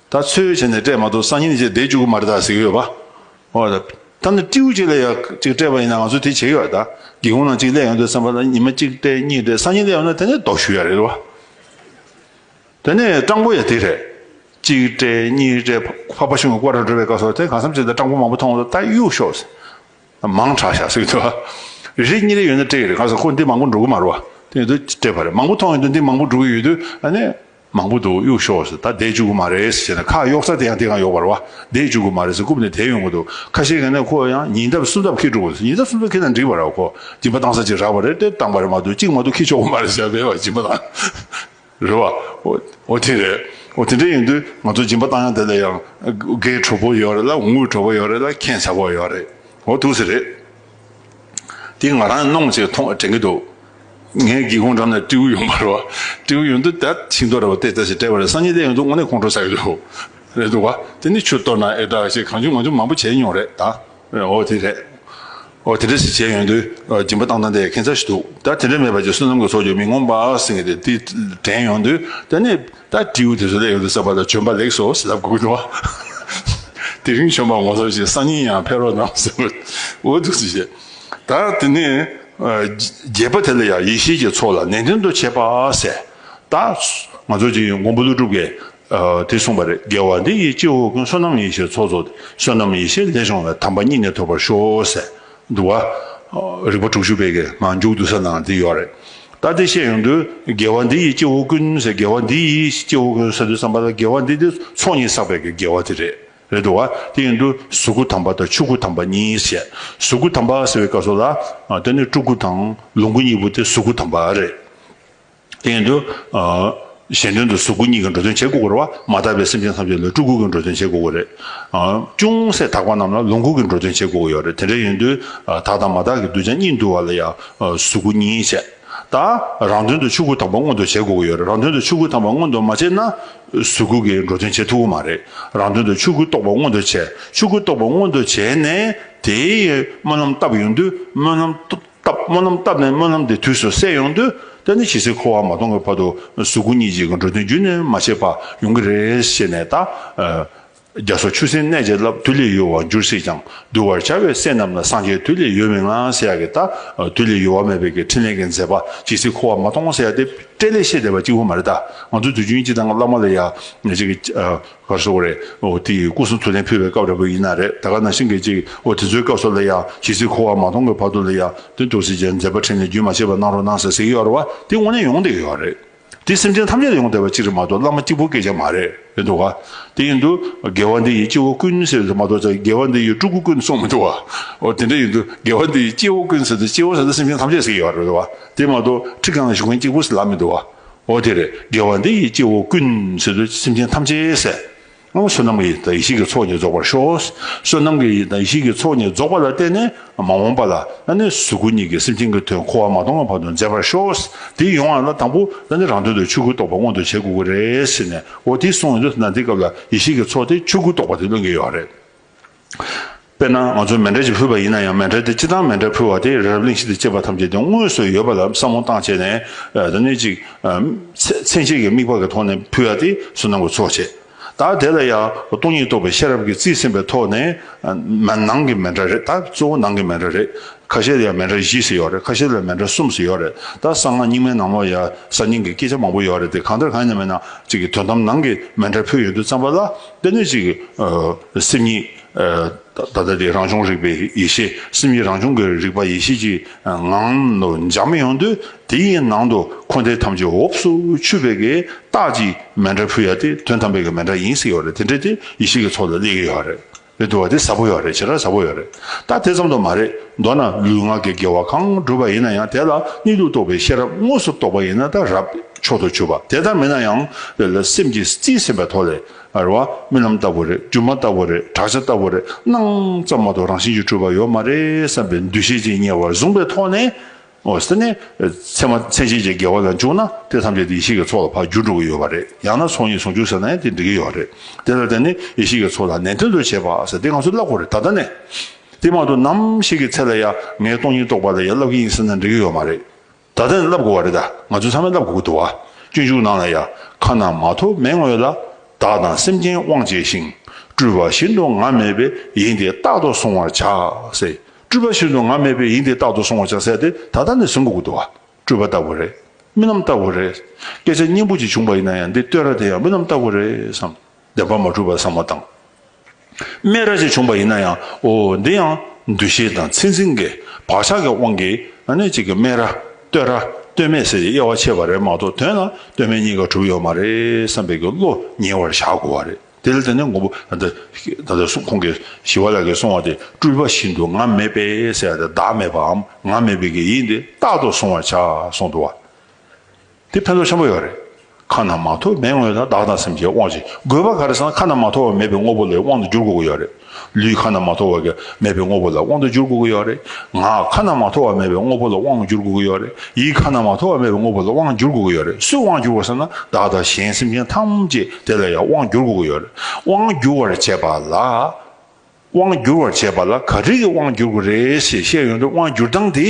ད་ཚོད་བྱས་ནས་སྤྲད་མ་གཏོགས་སང་ཉིན་ཞིག་བསྡད་བཅུག་གི་མ་རེད་ད་ཟེར་གྱི་ཡོད་པ། ཨོ་ད། ད་ནི་སྤྲེའུ་གཅིག་ལས་ཡག་གཅིག་སྤྲད་པ་ཡིན་ན་ང་ཚོས་དེ་བྱེད་ཀྱི་ཡོད་ད། སྒེའུ་ཁུང་ནང་གཅིག་གླས་ཡོང་དུས་བསམ་པ་ལ་ཉི་མ་གཅིག་སྤྲད་གཉིས་སྤྲད་སང་ཉིན་གླས་ཡོང་ན་དེ་ནི་ལྡོག་ཞུ་ཡ་རེད་བ། དེ་ནི་སྤྲང་པོ་ཡ་དེ་རེད། གཅིག་སྤྲད་གཉིས་སྤྲད་ཕ་ཕ་ཞུང་གི་སྐོར་ར་འགྲོ་བའི་སྐབས་སོགས་དེ་གང་བསམ་བྱས་ད་སྤྲང་པོ་མང་པོ་མཐོང་ད་གཡུག་ཤོག་ཟེར། མང་དྲགས་ཤག་ཟེར་གྱི་འདུག་བ། རེ་གཉིས་རེ་ཡོད་ན་སྤྲད་ཀྱི་རེད་གང་ཟེར་ཁོ་འདི་མང་པོ་འགྲོ་གི་མ་རུ་བ། དེ་ཡིན་དུས་སྤྲད་པ་རེད་མང་པོ་མཐོང་ཡོང་དུས་འདི་མང་པོ་འགྲོ་གི་ཡོད་དུས་ཨ་ནི། མང་པོ་འདུག་གཡུག་ཤོག་ཟེར་ད་བསྡད་བཅུག་གི་མ་རེད་ཟེར་ནས་ཁ་གཡོག་རྩ་དེ་ཡང་དེ་གང་ཡོག་པར་བ་བསྡད་བཅུག་གི་མ་རེད་ཟེར་རྐུབ་ནས་དེད་ཡོང་གི་འདུག་ཁ་ཤས་གན་ནས་ཁོ་ཡང་ཉིན་རྟབས་གསུམ་རྟབས་ཁེལ་འགྲོ་གི་འདུག་ཉིན་རྟབས་གསུམ་རྟབས་ཁེལ་ན་འགྲིག་པ་ར་ཁོ་སྦྱིན་པ་བཏང་ས་ཅིག་རག་པ་རེད་དེ་བཏང་པ་རེད་མ་གཏོགས་གཅིག་མ་གཏོགས་ཁེལ་ཆོག་གི་མ་རེད་ཟེར་བས་བ་སྦྱིན་པ་བཏང་རེད་བ། འོ་དེ་རེད་འོ་དེ་འདྲ་ཡིན་དུས་ང་ཚོ་སྦྱིན་པ་བཏང་ཡང་དེ་ལ་ཡང་དགའི་གྲོགས་པོ་ཡོད་རེད་ལ་འུ་གྲོགས་པོ་ཡོད་རེད་ལ་མཁྱེན་ཆ་པོ་ཡོད་རེད་འོ་ཐུགས་ཟེར་རེད། དེ་ང་རང་གནོངས་བྱས་མཐོང་དྲན་གྱི་འདུག་ངའི་སྒེའུ་ཁུང་འགྲམ་ན་སྤྲེའུ་ཡོང་པ་རེད། སྤྲེའུ་ཡོང་དུས་དེར་ཤིང་ཏོག་རེ་བ་བལྟས་བལྟས་ཤིང་དཔྲལ་བ་རེ་སང་ཉིན་གླས་ཡོང་དུས་དངོས་གནས་ཁོང་ཁྲོ་ཟ་གི་འདུག་རེད་འདུག་བ། དེ་ནི་ཆུ་གཏོར་ན་ཨེ་དྲག་ཞེས་གང་བྱུང་ང་བྱུང་མང་པོ་བྱས་མྱོང་རེད་ད། འོ་དེ་རེད། འོ་དེ་འདྲ་ཞིག་བྱས་ཡོང་དུས་སྦྱིན་པ་བཏང་བཏང་དེ་ཁེངས་ཚར་ཞིག་འདུག་ད་དེ་འདྲ་མེད་པ་ཅིག་བསོད་ནམས་ཀྱི་ཚོགས་ཀྱིས་མི་ངོམས་པ་ཟིན་གྱི་འདུག་དེ་དྲན་ཡོང་དུས་དེ་ནི་ད་དྲིའུ་དེ་ཚོ་ལས་ཡོང་དུ་བསགས་པ་ལ་བྱོན་པ་ལེགས་སོ་ཞེས་ལབ་དགོས་ཀྱི་འདུག་བ། དེ་རིང་བྱོན་པ་ངོ་ཚ་ཞེས་སང་ཉིན་ཡང་ཕེབས་རོགས་གནང་ཟེར་བ་འོ་འདུག་ཅེས་བཤད། ད་དེ་ནས་རྒྱས་པ་དེ་ལ་ཡང་ཡེ་ཤེས་ཀྱི་ཚོགས་ལ་ནན་ཏན་དུ་བྱེད་པ་ཟེར། ད་ང་ཚོ་གཅིག་མགོན་པོ་ཀླུ་སྒྲུབ་ཀྱིས་དེ་གསུངས་པ་རེད་རྒྱལ་བ་འདི་ཡི་སྤྱི་བོ་ཀུན་བསོད་ནམས་ཡེ་ཤེས་ཚོགས་རྫོགས་ཏེ་བསོད་ནམས་ཡེ་ཤེས་ལས་བྱུང་བའི་དམ་པ་སྙིང་ནས་ཐོབ་པར་ཤོག་ཟེར། འདུག་བ། རིག་པ་དྲུག་ཅུ་པའི་གི་ངང་མཇུག་བསྡུ་ས་ནང་འདི་ཡོད་རེད། ད་དེ་བཤད་ཡོང་དུས་དགེ་བ་འདི་ཡིས་སྐྱེ་བོ་ཀུན་ཟེར་དགེ་བ་འདི་ཡིས་སྐྱེ་བོ་ཀུན་ཟེར་དུས་བསམ་པ་ལ་དགེ་བ་འདི་དེ་ཚོགས་གཉིས་བསགས་པའི་གི་དགེ་བ་དེ་རེད་རེད་འདུག་བ། དེ་ཡིན་དུས་གཟུགས་སྐུ་དམ་པ་དང་ཆོས་སྐུ་དམ་པ་གཉིས་བྱས། གཟུགས་སྐུ་དམ་པ་ཟེར་བའི་སྐབས་སུ་ལ། དེ་ནི་སྤྲུལ་སྐུ་དང་ལོངས་སྐུ་གཉིས་པོ་དེ་གཟུགས་སྐུ་དམ་པ་རེད། སྟེང་དུ། གཞན་དོན་དུ་གཟུགས་སྐུ་གཉིས་ཀྱི་འགྲོ་དོན་བྱེད་དགོས་པར་བ་མ་དག་པའི་སེམས་ཅན་ཐམས་ཅད་ལ་སྤྲུལ་སྐུ་གྱི་འགྲོ་དོན་བྱེད་དགོས་པ་རེད། ཅུང་ཟད་དག་པ་རྣམས་ལ་ལོངས་སྐུ་གྱི་འགྲོ་དོན་བྱེད་དགོས་ཡོད་རེད་དེ་འདྲ་ཡིན་དུས་དག་དང་མ་དག་གི་གདུལ་བྱ་གཉིས་འདུལ་བ་ལ་ཡང་གཟུགས་སྐུ་གཉིས་བྱེད་ད། རང་དོན་དུ་ཆོས་སྐུ་དམ་པ་མངོན་དུ་བྱེད་དགོས་ཡོད་རེད་རང་དོན་དུ་ཆོས་སྐུ་དམ་པ་མངོན་དུ་མ་བྱས་ན་གཟུགས་སྐུ་གྱི་འགྲོ་དོན་བྱེད་ཐུབ་ཀྱི་མ་རེད་རང་དོན་དུ་ཆོས་སྐུ་རྟོགས་པ་མངོན་དུ་བྱས་ཆོས་སྐུ་རྟོགས་པ་མངོན་དུ་བྱས་ནས་དེའི་སྨོན་ལམ་བཏབ་ཡོང་དུས་སྨོན་ལམ་བཏབ། སྨོན་ལམ་བཏབ་ནས་སྨོན་ལམ་དེ་དུས་སུ་བསྲེག་ཡོང་དུས་ད་ནི་ཇི་སྲིད་འཁོར་བ་མ་སྟོང་གི་བར་དུ་གཟུགས་སྐུ་གཉིས་ཅིག་གི་འགྲོ་དོན་རྒྱུན་མ་ཆད་པར་ཡོང་གི་རེད་ཞེས་ནས་ད། རྒྱ་སོགས་ཆུ་སྲིན་གནས་བྱས་རླབས་དུས་ལས་ཡོལ་བར་འགྱུར་སྲིད་ཀྱང་གདུལ་བར་བྱ་བའི་སྲས་རྣམས་ལ་སངས་རྒྱས་དུས་ལས་ཡོལ་མི་མངའ་ཟེར་ཡག་གི་ད་དུས་ལས་ཡོལ་བ་མེད་པའི་གི་ཕྲིན་ལས་ཀྱི་མཛད་པ་ཇི་སྲིད་འཁོར་བ་མ་སྟོང་ཟེར་ཡག་དེ་སྤྲེལ་ལད་བཤད་བསྡད་པ་གཅིག་བུ་མ་རེད་ད་ང་ཚོ་དུས་རྒྱུན་གཅིག་དང་བླ་མ་ལ་ཡག་གཅིག་གི་བར་སོང་བ་རེད། ཨོ་དེ་སྐུ་གསུང་ཐུགས་ལན་ཕུལ་བའི་སྐབས་རེད་པོ་ཡིན་ན་རེད་ད་ག་ནང་བཞིན་གྱི་ཅིག་ཨོ་དེ་ཚོའི་སྐབས་སོགས་ལ་ཡང་ཇི་སྲིད་འཁོར་བ་མ་སྟོང་གི་བར་དུ་ལ་ཡང་དོན་དུ་སེམས་ཅན་མཛད་པ་ཕྲིན་ལས་རྒྱུན་མ་ཆད་པར་གནང་རོགས་གནང་ཟེར་ཟེར་གྱི་ཡོད་རེད་བ་དེ་དངོས་གནས་ཡོང་བསྡད་ཡོད་རེད། དེ་སེམས་ཅན་ཐམས་ཅད་ལ་ཡོང་བསྡད་པ་ཅིག་རེད་མ་གཏོགས་བླ་མ་གཅིག་པོ་སྐད་ཆ་མ་རེད་ཡིན་འདུག་བ་དེ་ཡིན་དུ་དགེ་བ་འདི་ཡི་སྐྱེ་བོ་ཀུན་ཟེར་བ་དེ་མ་གཏོགས་དགེ་བ་འདི་ཡི་སྤྲུལ་སྐུ་ཀུན་སོང་མི་འདུག་བ་འོ་དེ་འདྲ་ཡིན་དུ་དགེ་བ་འདི་ཡི་སྐྱེ་བོ་ཀུན་ཟེར་དུ་སྐྱེ་བོ་ཟེར་དུ་སེམས་ཅན་ཐམས་ཅད་ཟེར་གྱི་ཡོད་རེད་བ་དེ་མ་གཏོགས་ཁྲི་གང་ལ་བཞུགས་མཁན་གཅིག་པོ་ཟེར་ལབ་མི་འདུག་བ་འོ་དེར་དགེ་བ་འདི་ཡིས་སྐྱེ་བོ་ཀུན། ཚུལ་དུ་སེམས་ཅན་ཐམས་ཅད་བསད། སྔ་མ་བསོད་ནམས་ཀྱི་ཡེ་ཤེས་ཀྱི་ཚོགས་ནི་རྫོགས་པར་ཤོག། བསོད་ནམས་ཀྱི་ཡེ་ཤེས་ཀྱི་ཚོགས་ནི་རྫོགས་པ་ལ་བརྟེན་ནས་མ་འོངས་པ་ལ་ད་ནི་གཟུགས་སྐུ་གཉིས་ཀྱི་སེམས་ཅན་གྱི་དོན་འཁོར་བ་མ་སྟོང་བ་བར་དུ་མཛད་པར་ཤོག། དེའི་ཡོན་ཨ་ལ་དང་པོ་ད་ནི་རང་དོན་དུ་ཆོས་སྐུ་རྟོགས་པ་མངོན་དུ་བྱེད་དགོས་ཀྱི་རེད་ཟེར་ནས་འོ་དེ་སོང་ཡོད་དོ་ན་དེ་སྐབས་ལ་ཡེ་ཤེས་ཀྱི་ཚོགས་དེ་ཆོས་སྐུ་རྟོགས་པ་དེ་བློས་འགེལ་ཡོད་རེད། དཔེར་ན་ང་ཚོས་མེ་འབྲས་ཅིག་ཕུལ་བ་ཡིན་ན་ཡང་མེ་འབྲས་དེ་ཅི་སྟངས་མེ་འབྲས་ཕུལ་བ་དེ་རབ་གླིང་ཞིག་ཏུ་སྐྱེས་པ་ཐམས་ཅད་དེ་དངོས་སུ་ཡོད་པ་ལ་བསམ་བློ་བཏང་བྱས་ནས་དེ་ནི་ཅིག་ཚན་ཞིག་གི་དམིགས་པ་གི་ཐོག་ནས་ཕུལ་བ་དེ་སུ་ནང་གི་ཚོགས་བྱས་ད་དེ་ལ་ཡང་སྟོང་ཉིད་རྟོགས་པའི་ཤེས་རབ་ཀྱི་རྩིས་ཟིན་པའི་ཐོག་ནས་ནང་གི་མེ་འབྲས་རེད་ད་གཙོ་བོ་ནང་གི་མེ་འབྲས་རེད་ཁ་ཤས་ལ་ཡང་མེ་འབྲས་བཞི་སུ་ཡོད་རེད་ཁ་ཤས་ལ་མེ་འབྲས་གསུམ་སུ་ཡོད་རེད་ད་གསང་སྔགས་རྙིང་མའི་ནང་ལོ་ཡ་གསར་རྙིང་གི་སྐད་ཆ་མང་པོ་ཡོད་རེད་དེ་གང་ལྟར་གང་ཡིན་ན་མེད་ན་ཅིག་གི་དོན་དམ་ནང་གི་མེ་འབྲས་ཕུལ་ཡོད་འདུག་བསམ་པ་ལ། དེ་ནས་ཅིག། སེམས་ཉིད། ད་ལྟ་དེ་རང་བྱུང་རིག་པའི་ཡེ་ཤེས་སེམས་ཉིད་རང་བྱུང་གི་རིག་པ་ཡེ་ཤེས་ཀྱི་ངང་དུ་འཇགས་མི་ཡོང་དུས་དེའི་ནང་དུ་འཁོར་འདས་ཐམས་ཅད་འོབས་སུ་ཆུད་པའི་གི་རྟགས་ཀྱིས་མེ་འདྲ་ཕུལ་ཡ་དེ་དོན་དམ་པའི་གི་མེ་འདྲ་ཡིན་སྲིད་ཡོད་རེད་དེ་འདྲ་དེ་ཡེ་ཤེས་ཀྱི་ཚོགས་ལ་སླེབས་ཀྱི་ཡོད་རེད་རེད་འདུག་བ་དེ་ཟབ་པོ་ཡོད་རེད་ཇི་ལྟར་ཟབ་པོ་ཡོད་རེད་ད་དེ་ཙམ་དུ་མ་རེད་མདོར་ན་ལུས་ངག་གི་དགེ་བ་གང་བསྒྲུབས་པ་ཡིན་ན་ཡང་དེ་ལ་གཉིད་དུ་གཏོགས་པའི་ཤེས་རབ་དངོས་སུ་རྟོགས་པ་ཡིན་ན་ད་རབ། མཆོག་ཏུ་གྱུར་པ་དེ་ལྟར་མིན་ན་ཡང་ལེ་ལོ་སེམས་ཀྱིས་རྩིས་ཟིན་པའི་ཐོག་ལས་རེ་བ་རྨི་ལམ་ལྟ་བུ་རེ་སྒྱུ་མ་ལྟ་བུ་རེ་བྲག་ཆ་ལྟ་བུ་རེ་སྣང་ཙམ་མ་ཏོག་རང་བཞིན་གྱིས་གྲུབ་པ་ཡོད་མ་རེད་བསམ་པའི་འདུ་ཤེས་ཅན་ཉེ་བར་བཟུང་པའི་ཐོག་ནས་འོ་ཟེར་ནས་མཚན་མ་མཚན་ཤེས་ཀྱི་འགལ་བ་ལ་འཇུག་ན་དེ་ཐམས་ཅད་དེ་ཡེ་ཤེས་ཀྱི་ཚོགས་ལ་བར་འགྱུར་འགྲོ་གི་ཡོད་པ་རེད་ཡང་ན་ཚོགས་གཉིས་ཟུང་འཇུག་ཟེར་ན་ཡང་དེ་འགྲིག་གི་ཡོད་རེད་དེ་ལ་བརྟེན་ནས་ཡེ་ཤེས་ཀྱི་ཚོགས་ལ་ནན་ཏན་དུ་བྱེད་པ་ཟེར་དེ་ང་ཚོས་བསླབ་དགོས་རེད་ད་ལྟ་ནས་དེ་མ་ཏོག་ནམ་ཞིག་གི་ཚེ་ལ་ཡ་ངའི་སྟོང་ཉིད་རྟོགས་པ་ལ་ཡ་བསླབ་ཀྱི་ཡིན་ཟེར་ན་འགྲིག་གི་ཡོད་མ་རེད། ད་ལྟ་ནས་བསླབ་དགོས་བ་རེད་ད་ང་ཚོས་ཚང་མས་བསླབ་དགོས་ཀྱི་འདུག་བ་སྤྱོད་འཇུག་ནང་ལ་ཡ་ཁ་ན་མ་ཐོ་མེད་ངོས་ལ་བདག་དང་སེམས་ཅན་དབང་བྱས་ཤིང་སྤྲུལ་པ་བཞིན་དུ་ང་མེད་པའི་ཡིན་དེ་རྟག་ཏུ་སོང་བར་བྱ་ཟེར་སྤྲུལ་པ་བཞིན་དུ་ང་མེད་པའི་ཡིན་དེ་རྟག་ཏུ་སོང་བར་བྱ་ཟེར་དེ་ད་ལྟ་ནས་ཟིན་དགོས་ཀྱི་འདུག་བ་སྤྲུལ་པ་ལྟ་བུ་རེད་མི་རྣམས་ལྟ་བུ་རེད་སྐད་ཆ་སྙན་པོ་ཅིག་བྱུང་བ་ཡིན་ན་ཡང་འདི་ལྟོས་ར་དེ་ཡང་མི་རྣམས་ལྟ་བུ་རེད་བསམ། བདེན་པ་མ་གྲུབ་པར་བསམ་བ་དང། སྨད་ར་ཅན་བྱུང་པ་ཡིན་ན་ཡང་འོ། འདི་ཡང་འདུ་ཤེས་དང་ཚད་འཛིན་གྱི་བག་ཆགས་ཀྱི་དབང་གིས་ནི་གཅིག་གི་སྨད་ར། ལྟོས་ར། ལྟོས་མེད་ཟེར་གྱི་དབྱེ་བ་ཕྱེ་བ་རེད་མ་གཏོགས་དོན་ལ་ལྟོས་མེད་གཉིས་ཀ་གྲུབ་ཡོད་མ་རེད་བསམ་པའི་གི་བློ་ཉེ་བར་བཞག་དགོས་བ་རེད་དེ་ལ་དེ་ནས་མགོན་པོ་ད་ལྟ་ད་ལྟ་ཁོང་གིས་ཞི་བ་ལགས་ཀྱིས་གསུང་བ་དེ་སྤྲུལ་པ་བཞིན་དུ་ང་མེད་པས་ཟེར་བ་དེ་བདག་མེད་པའམ་ང་མེད་པའི་གི་ཡིན་ཏེ་རྟག་ཏུ་གཟུང་བར་བྱ་གསུང་འདུག་བ། དེ་ཕན་ཐོགས་ཆེན་པོ་ཡོད་རེད། ཁ་ན་མ་ཐོ་མེད་དངོས་དང་བདག་དང་སེམས་ཀྱི་དབང་ཅིག་དགོས་པ་ག་རེ་ཟང་ཁ་ན་མ་ཐོ་བ་མེད་པའི་དངོས་པོ་ལས་དབང་དུ་འགྱུར་དགོས་ཀྱི་ཡོད་རེད། ལུས་ཁ་ན་མ་ཐོ་བ་ག་མེད་པའི་དངོས་པོ་ལ་དབང་དུ་འགྱུར་དགོས་ཀྱི་ཡོད་རེད། ངག་ཁ་ན་མ་ཐོ་བ་མེད་པའི་དངོས་པོ་ལ་དབང་འགྱུར་དགོས་ཀྱི་ཡོད་རེད། ཡིད་ཁ་ན་མ་ཐོ་བ་མེད་པའི་དངོས་པོ་ལ་དབང་འགྱུར་དགོས་ཀྱི་ཡོད་རེད་སུས་དབང་འགྱུར་བ་ཟེར་ན་བདག་དང་གཞན་སེམས་ཅན་ཐམས་ཅད་དེ་ལ་ཡང་དབང་འགྱུར་དགོས་ཀྱི་ཡོད་རེད་དབང་འགྱུར་བར་བྱེད་པ་ལ། དབང་སྒྱུར་བར་བྱེད་པ་ལ་ག་རིགས་ཀྱི་དབང་སྒྱུར་དགོས་རེད་ཞེས་བཤད་ཡོང་དུས་དབང་སྒྱུར་སྟངས་དེ་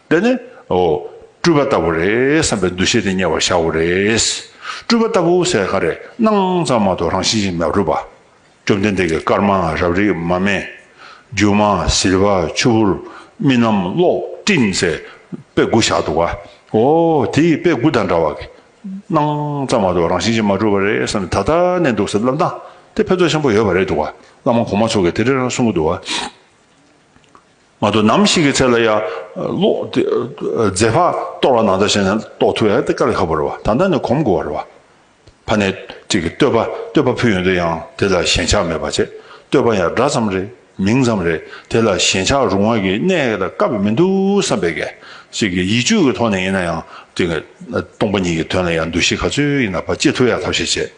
འདི་ནི། སྤྲུལ་པ་ལྟ་བུ་རེད་བསམ་པའི་འདུ་ཤེས་དེ་གཉེར་བར་བྱའོ་རེད། སྤྲུལ་པ་ལྟ་བུ་ཟེར་ག་རེ་སྣང་ཙམ་མ་གཏོགས་རང་བཞིན་ཅིག་མ་གྲུབ་པ། བཅོམ་ལྡན་འདས་ཀྱིས་དཀར་དམར་རབ་རིབ་མ་སྨད། རྒྱུ་མ་ཟིལ་བ་ཆུ་བུར་རྨི་ལམ་གློག་སྤྲིན་ཟེར་དཔེ་དགུ་བཞག་འདུག་ག། འོ་དེའི་དཔེ་དགུ་དང་འདྲ་བ། སྣང་ཙམ་མ་གཏོགས་རང་བཞིན་ཅན་མ་གྲུབ་པ་རེད་བསམ་ནས་ད་ལྟ་གནས་འདུག་ཟེར་བསླབ་སྟངས་དེ་ཕན་ཐོགས་ཆེན་པོ་ཡོད་པ་རེད་འདུག་བླ་མ་གོང་མ་ཚོ་གིས་དེ་འདྲའི་རང་གསུང་གི་འདུག་བ། མ་གཏོགས་ནམ་ཞིག་གི་ཚེ་ལ་ཡ། ལོ། རྫས་ཕག་གཏོར་བ་ནང་ལྟར་བྱས་ན་གཏོགས་ཐུ་ཡ་ཏི་ཀ་ལ་ཁ་པོ་རེད་བ་ད་ལྟ་ནས་གོམས་དགོས་བ་རེད་བ། ཕ་ནས་ཅིག་གིས་བསྟོད་པ་བསྟོད་པ་ཕུལ་ཡོང་དུས་ཡང་དེ་ལ་ཞེན་ཆགས་མེད་པ་བྱས་བསྟོད་པ་ཡང་འདྲ་ཙམ་རེད། མིང་ཙམ་རེད་དེ་ལ་ཞེན་ཆགས་རུང་བ་གི་གནས་ཀ་དག་དཀའ་བ་མི་འདུག་བསམ་པས་གལ་སྲིད་ཀྱི་ཡིད་དཔྱོད་ཀྱི་ཐོག་ནས་ཡིན་ན་ཡང་དེ་ག་སྟོང་པ་ཉིད་ཀྱི་དོན་ལ་ཡང་འདུ་ཤེས་ག་ཚོད་ཡིན་ན་བ་ཅི་ཐུབ་ཡང་ཐབས་ཤེས་བྱེད་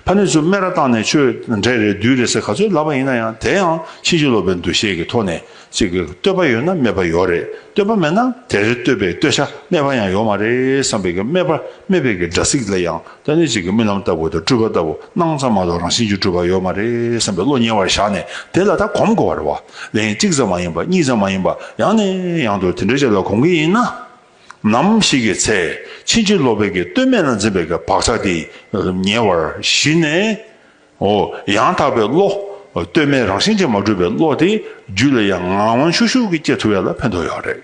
ཕ་ནི་ཚུ་སྨད་ར་བཏང་ནས་ཆོས་འབྲས་རེད་བདུད་རེད་ཟེར་ག་ཚོད་ལབ་པ་ཡིན་ན་ཡང་དེ་ཡང་ཕྱིན་ཅི་ལོག་པའི་འདུ་ཤེས་ཀྱི་ཐོག་ནས་ཅིག་གི་བསྟོད་པ་ཡོད་ན་སྨད་པ་ཡོག་རེད་བསྟོད་པ་མེད་ན་དེ་རེད་བསྟོད་པའི་བསྟོད་བྱ་སྨད་པ་ཡང་ཡོག་མ་རེད་བསམ་པས་གལ་སྨད་པ་སྨད་པས་གལ་སྒྲ་ཚིག་ལ་ཡང་ལྟ་ནི་གཅིག་གི་རྨི་ལམ་ལྟ་བུ་དང་སྤྲུལ་པ་ལྟ་བུ་སྣང་ཙམ་མ་གཏོགས་རང་བཞིན་གྱི་སྤྲུལ་པ་ཡོད་མ་རེད་བསམ་པའི་བློ་ཉེ་བར་བཞག་ནས་དེ་ལ་ད་གོམས་དགོས་པ་རེད་བ་ལན་གཅིག་ཙམ་མ་ཡིན་པ་གཉིས་ཙམ་མ་ཡིན་པ་ཡང་ནས་ཡང་དུ་དེ་འདྲའི་ཆ་ལ་གོམས་ཀྱི་ཡིན། ནམ་ཞིག་གི་ཚེ་ཕྱིན་ཅི་ལོག་པའི་གི་བསྟོད་སྨད་ལ་འཛིན་པའི་གི་བག་ཆགས་དེ་ཉེ་བར་ཞི་ནས་འོ་ཡང་དག་པའི་བློ་བསྟོད་སྨད་རང་བཞིན་ཅན་མ་གྲུབ་པའི་བློ་དེ་རྒྱུད་ལ་ཡང་ངང་ཤུག་ཤུག་གིས་སྐྱེ་ཐུབ་ཡ་ལ་ཕན་ཐོགས་ཡོད་རེད།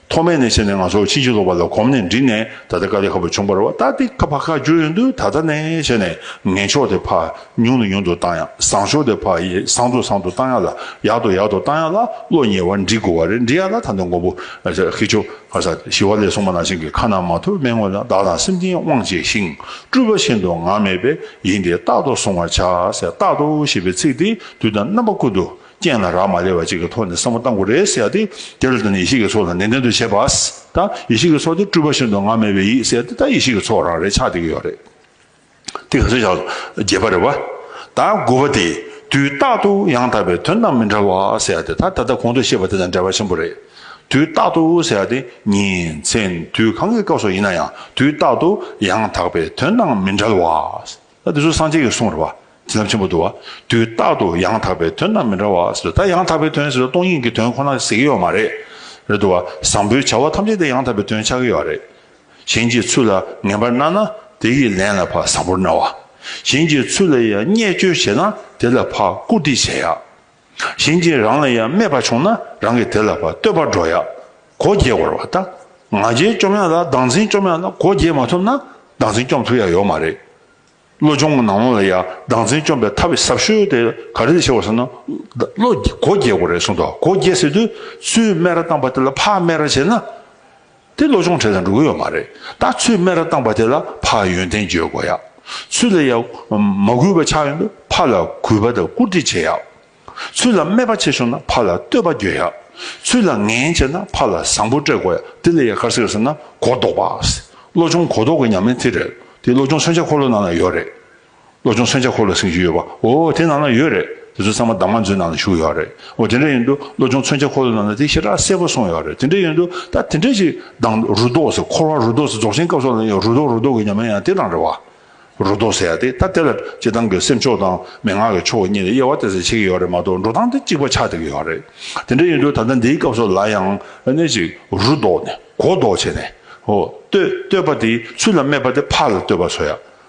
ཐོག་མའི་གནས་ཆེན་ནས་ང་ཚོར་ཕྱིན་ཅི་ལོག་པ་ལ་གོམས་ནས་འདྲི་ནས་ད་ལྟ་ཀ་ལི་ཧ་བ་ཆུང་བར་བ་ཏཱ་ཏི་ཀ་བྷ་ག་བརྗོད་ཡོད་འདུག་ད་ལྟ་ནས་བྱས་ནས་ངན་ཕྱོགས་དེ་ཕ་ཉུང་ལ་ཉུང་དུ་བཏང་ཡང་བཟང་ཕྱོགས་དེ་ཕ་ཡི་བཟང་དུ་བཟང་དུ་བཏང་ཡག་ལ་ཡག་དུ་ཡག་དུ་བཏང་ཡག་ལ་བློ་ཉེ་བར་འདྲི་དགོས་བ་རེད་འདྲི་ཡག་ལ་ད་ནི་མགོན་པོ་ཧི་ཆོ་ག་ས་ཞི་བ་ལས་སོང་མ་ནང་བཞིན་གྱི་ཁ་ན་མ་ཐོ་སྨྲེང་བ་ལ་བདག་དང་སེམས་ཅན་དབང་བྱས་ཤིང་སྤྲུལ་པ་བཞིན་དུ་ངག་མེད་པས་ཡིན་ཏེ་རྟག་ཏུ་བཟུང་བར་བྱ་ཟེར་རྟག་ཏུ་ཞེས་པའི་ཚིག་དེས་དུས་དང་རྣམ་པ་ཀུན་ཏུ། རྐྱེན་ལ་རག་མ་ལས་པ་ཅིག་གི་ཐོག་ནས་བསམ་བློ་གཏང་དགོས་རེད་ཟེར་ཏེ་དེ་ལ་ད་ནི་ཡེ་ཤེས་ཀྱི་ཚོགས་ལ་ནན་ཏན་དུ་བྱེད་པ། ད་ཡེ་ཤེས་ཀྱི་ཚོགས་དེ་སྤྲུལ་པ་བཞིན་དུ་ང་མེད་པའི་ཡིད་ཟེར་ཏེ་ད་ཡེ་ཤེས་ཀྱི་ཚོགས་རང་རེད་ཆགས་བསྡད་ཀྱི་ཡོད་རེད། དེ་ག་ཚོད་ཆགས་བརྒྱད་པ་རེད་བ། ད་དགུ་བ་དེ་དུས་རྟག་ཏུ་ཡང་དག་པའི་དོན་དང་མི་འདྲ་བ་ཟེར་ཏེ་ད་ད་ལྟ་གོང་དུ་བཤད་པ་དེ་དང་འདྲ་བ་ཆེན་པོ་རེད། དུས་རྟག་ཏུ་ཟེར་ཏེ་ཉིན་མཚན་དུས་གང་གི་སྐབས་སུ་ཡིན་ན་ཡང་དུས་རྟག་ཏུ་ཡང་དག་པའི་དོན་དང་མི་འདྲ་བ། ད་དེ་ཚོ་སངས་རྒྱས་ཀྱི་གསུང་རེད་བ། དེ་རྣམས་ཆེན་པོ་འདུག་བ། དུས་རྟག་ཏུ་ཡང་དག་པའི་དོན་རྣམས་མི་འདྲ་བ་ཟེར་ད་ཡང་དག་པའི་དོན་ཟེར་སྟོང་ཉིད་ཀྱི་དོན་ཁོ་ན་ཟེར་གྱི་ཡོད་མ་རེད། རེད་འདུག་བ། བཟང་པོའི་བྱ་བ་ཐམས་ཅད་དེ་ཡང་དག་པའི་དོན་ཆགས་ཀྱི་ཡོད་རེད། གཞན་གྱི་ཚུལ་ལ་ངན་པར་སྣང་ན་དེ་ཡི་ལན་ལ་ཕ་བཟང་པོར་སྣང་བ། གཞན་གྱི་ཚུལ་ལ་ཡང་བརྙས་བཅོས་བྱས་ན་དེ་ལ་ཕ་བཀུར་སྟི་བྱེད་ཡ། གཞན་གྱིས་རང་ལ་ཡང་སྨྲས་པ་བྱུང་ན་རང་གིས་དེ་ལ་བསྟོད་པར་འགྲོ་ཡང་གོ་རྒྱས་བར་བ་དང། ང་རྒྱལ་བཅོམ་ཡང་ལ་སྡང་འཛིན་བཅོམ་ཡང་ལ་གོ་རྒྱས་མ་ཐུབ་ན་སྡང་འཛིན་བཅོམ་ཐུབ་ཡ་ཡོད་མ་རེད། བློ་སྦྱོང་གི་ནང་ལོགས་ལ་ཡང་སྡང་འཛིན་བཅོམ་པའི་ཐབས་བི་ཟབ་ཤོས་དེ་ག་རེ་ཆེ་བ་ཟེར་ན། བློ་གོ་རྒྱས་དགོས་རེད་གསུངས་འདུག་གོ་རྒྱས་ཟེར་དུས་སུས་སྨད་ར་བཏང་བ་དེ་ལ་ཕ་སྨད་ར་བྱས་ན། དེ་ལོ་ཆུང་གྲས་དང་འགྲོ་གི་ཡོད་མ་རེད་ད་ཚོས་སྨད་ར་བཏང་པ་དེ་ལ་ཕ་ཡོན་ཏན་བརྗོད་དགོས་ཡག་ཚོས་ལ་ཡག་མ་གུས་པ་ཆགས་ཡོད་ན་ཕ་ལ་གུས་པ་དང་བཀུར་སྟི་བྱེད་ཡག་ཚོས་ལ་སྨད་པ་ཆེ་བྱུང་ན་ཕ་ལ་བསྟོད་པ་བརྗོད་ཡག་ཚོས་ལ་ངན་བྱས་ན་ཕ་ལ་བཟང་པོ་སྤྲད་དགོས་ཡག་དེ་ལ་ཡག་ག་ཟེར་ཟེར་ན་གོ་ལྡོག་པ་ལོ་ཆུང་གོ་ལྡོག་གི་ཉམས་ལེན་དེ་རེད་དེ་ལོ་ཆུང་མཚོན་ཆ་འཁོར་ལོ་ནང་ན་ཡོད་རེད། བློ་ཆུང་མཚོན་ཆ་ཁོ་ལ་བསྲིངས་ཀྱི་ཡོད་པ་འོ་དེ་ནང་ན་ཡོད་རེད་དེ་ཚོ་ཚང་མ་བདག་མ་འཛོལ་ནང་ན་བཞུགས་ཡོད་རེད་འོ་དེ་འདྲ་ཡིན་དུས་བློ་ཆུང་མཚོན་ཆ་ཁོ་ལ་ནང་ན་དེ་ཞེ་དྲག་གསལ་པོ་གསུངས་ཡོད་རེད་དེ་འདྲ་ཡིན་དུས་ད་དེ་འདྲ་ཞིག་བདང་རུ་དོག་ཟེར་འཁོར་བ་རུ་དོག་ཟེར་རྫོགས་ཆེན་སྐབས་སོགས་ལ་ཡང་རུ་དོག་རུ་དོག་གི་ཉམས་ཡང་ཡང་དེ་རང་རེད་བ། རུ་དོག་ཟེར་ཡ་དེ་ད་དེ་ལ་སྤྱི་བཏང་གི་སེམས་ཕྱོགས་དང་མན་ངག་གི་ཕྱོགས་གཉིས་ལ་དབྱེ་བ་དེ་ཚོ་ཕྱེ་གི་ཡོད་རེད་མ་གཏོགས་འགྲོ་སྟངས་དེ་གཅིག་པ་ཆགས་བསྡད་ཀྱི་ཡོད་རེད་དེ་འདྲ་ཡིན་དུས་ད་ལྟ་འདིའི་སྐབས་སོགས་ལ་ཡང་གནས་ཤིག་རུ་དོག་ནས་གོ་ལྡོག་བྱས་ནས་འོ་བསྟོད་བསྟོད་པ་དེའི་ཚུལ་ལ་སྨྲས་པ་དེ་ཕར་ལ་བསྟོད་པ་བཟོ་ཡ།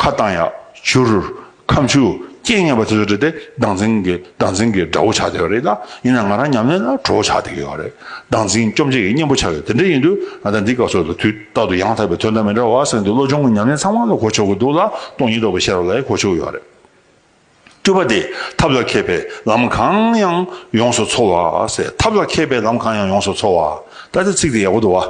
ཁ་གདངས་ཡག་བྱུར། ཁམ་ཆུ་རྐྱེན་ངན་པ་དེ་ཚོ་དྲིལ་ཏེ་ཟླ་འཛིན་གྱི་ཟླ་འཛིན་གྱི་དགྲ་བོ་ཆགས་བསྡད་པ་རེད་ད། ཡིན་ནའང་ང་རང་ཉམས་ལེན་ལ་གྲོགས་བོ་ཆགས་བསྡད་ཡོད་པ་རེད། ཟླ་འཛིན་སྐྱོབ་འཇིག་གི་གཉེན་པོ་ཆགས་ཡོད་དེ་འདྲ་ཡིན་དུས་ང་ད་འདི་སྐབས་སོགས་ལ་དུས་རྟག་ཏུ་ཡང་དག་པའི་དོན་དང་མི་འདྲ་བ་གསན་དུས་བློ་སྦྱོང་གི་ཉམས་ལེན་ཚང་མ་ལ་གོ་ཆོག་གི་འདུག་ལ་སྟོང་ཉིད་རྟོགས་པའི་ཤེས་རབ་ལ་ཡང་གོ་ཆོག་གི་ཡོད་རེད། སྤྲུལ་པ་དེས་ཐབས་ལ་མཁས་པའི་ལམ་གང་ཡང་ཡོངས་སུ་འཚོ་བ། ཐབས་ལ་མཁས་པའི་ལམ་གང་ཡང་ཡོངས་སུ་འཚོ་བ། ད་དེ་ཚིག་དེ་ཡག་པོ་འདུག་བ།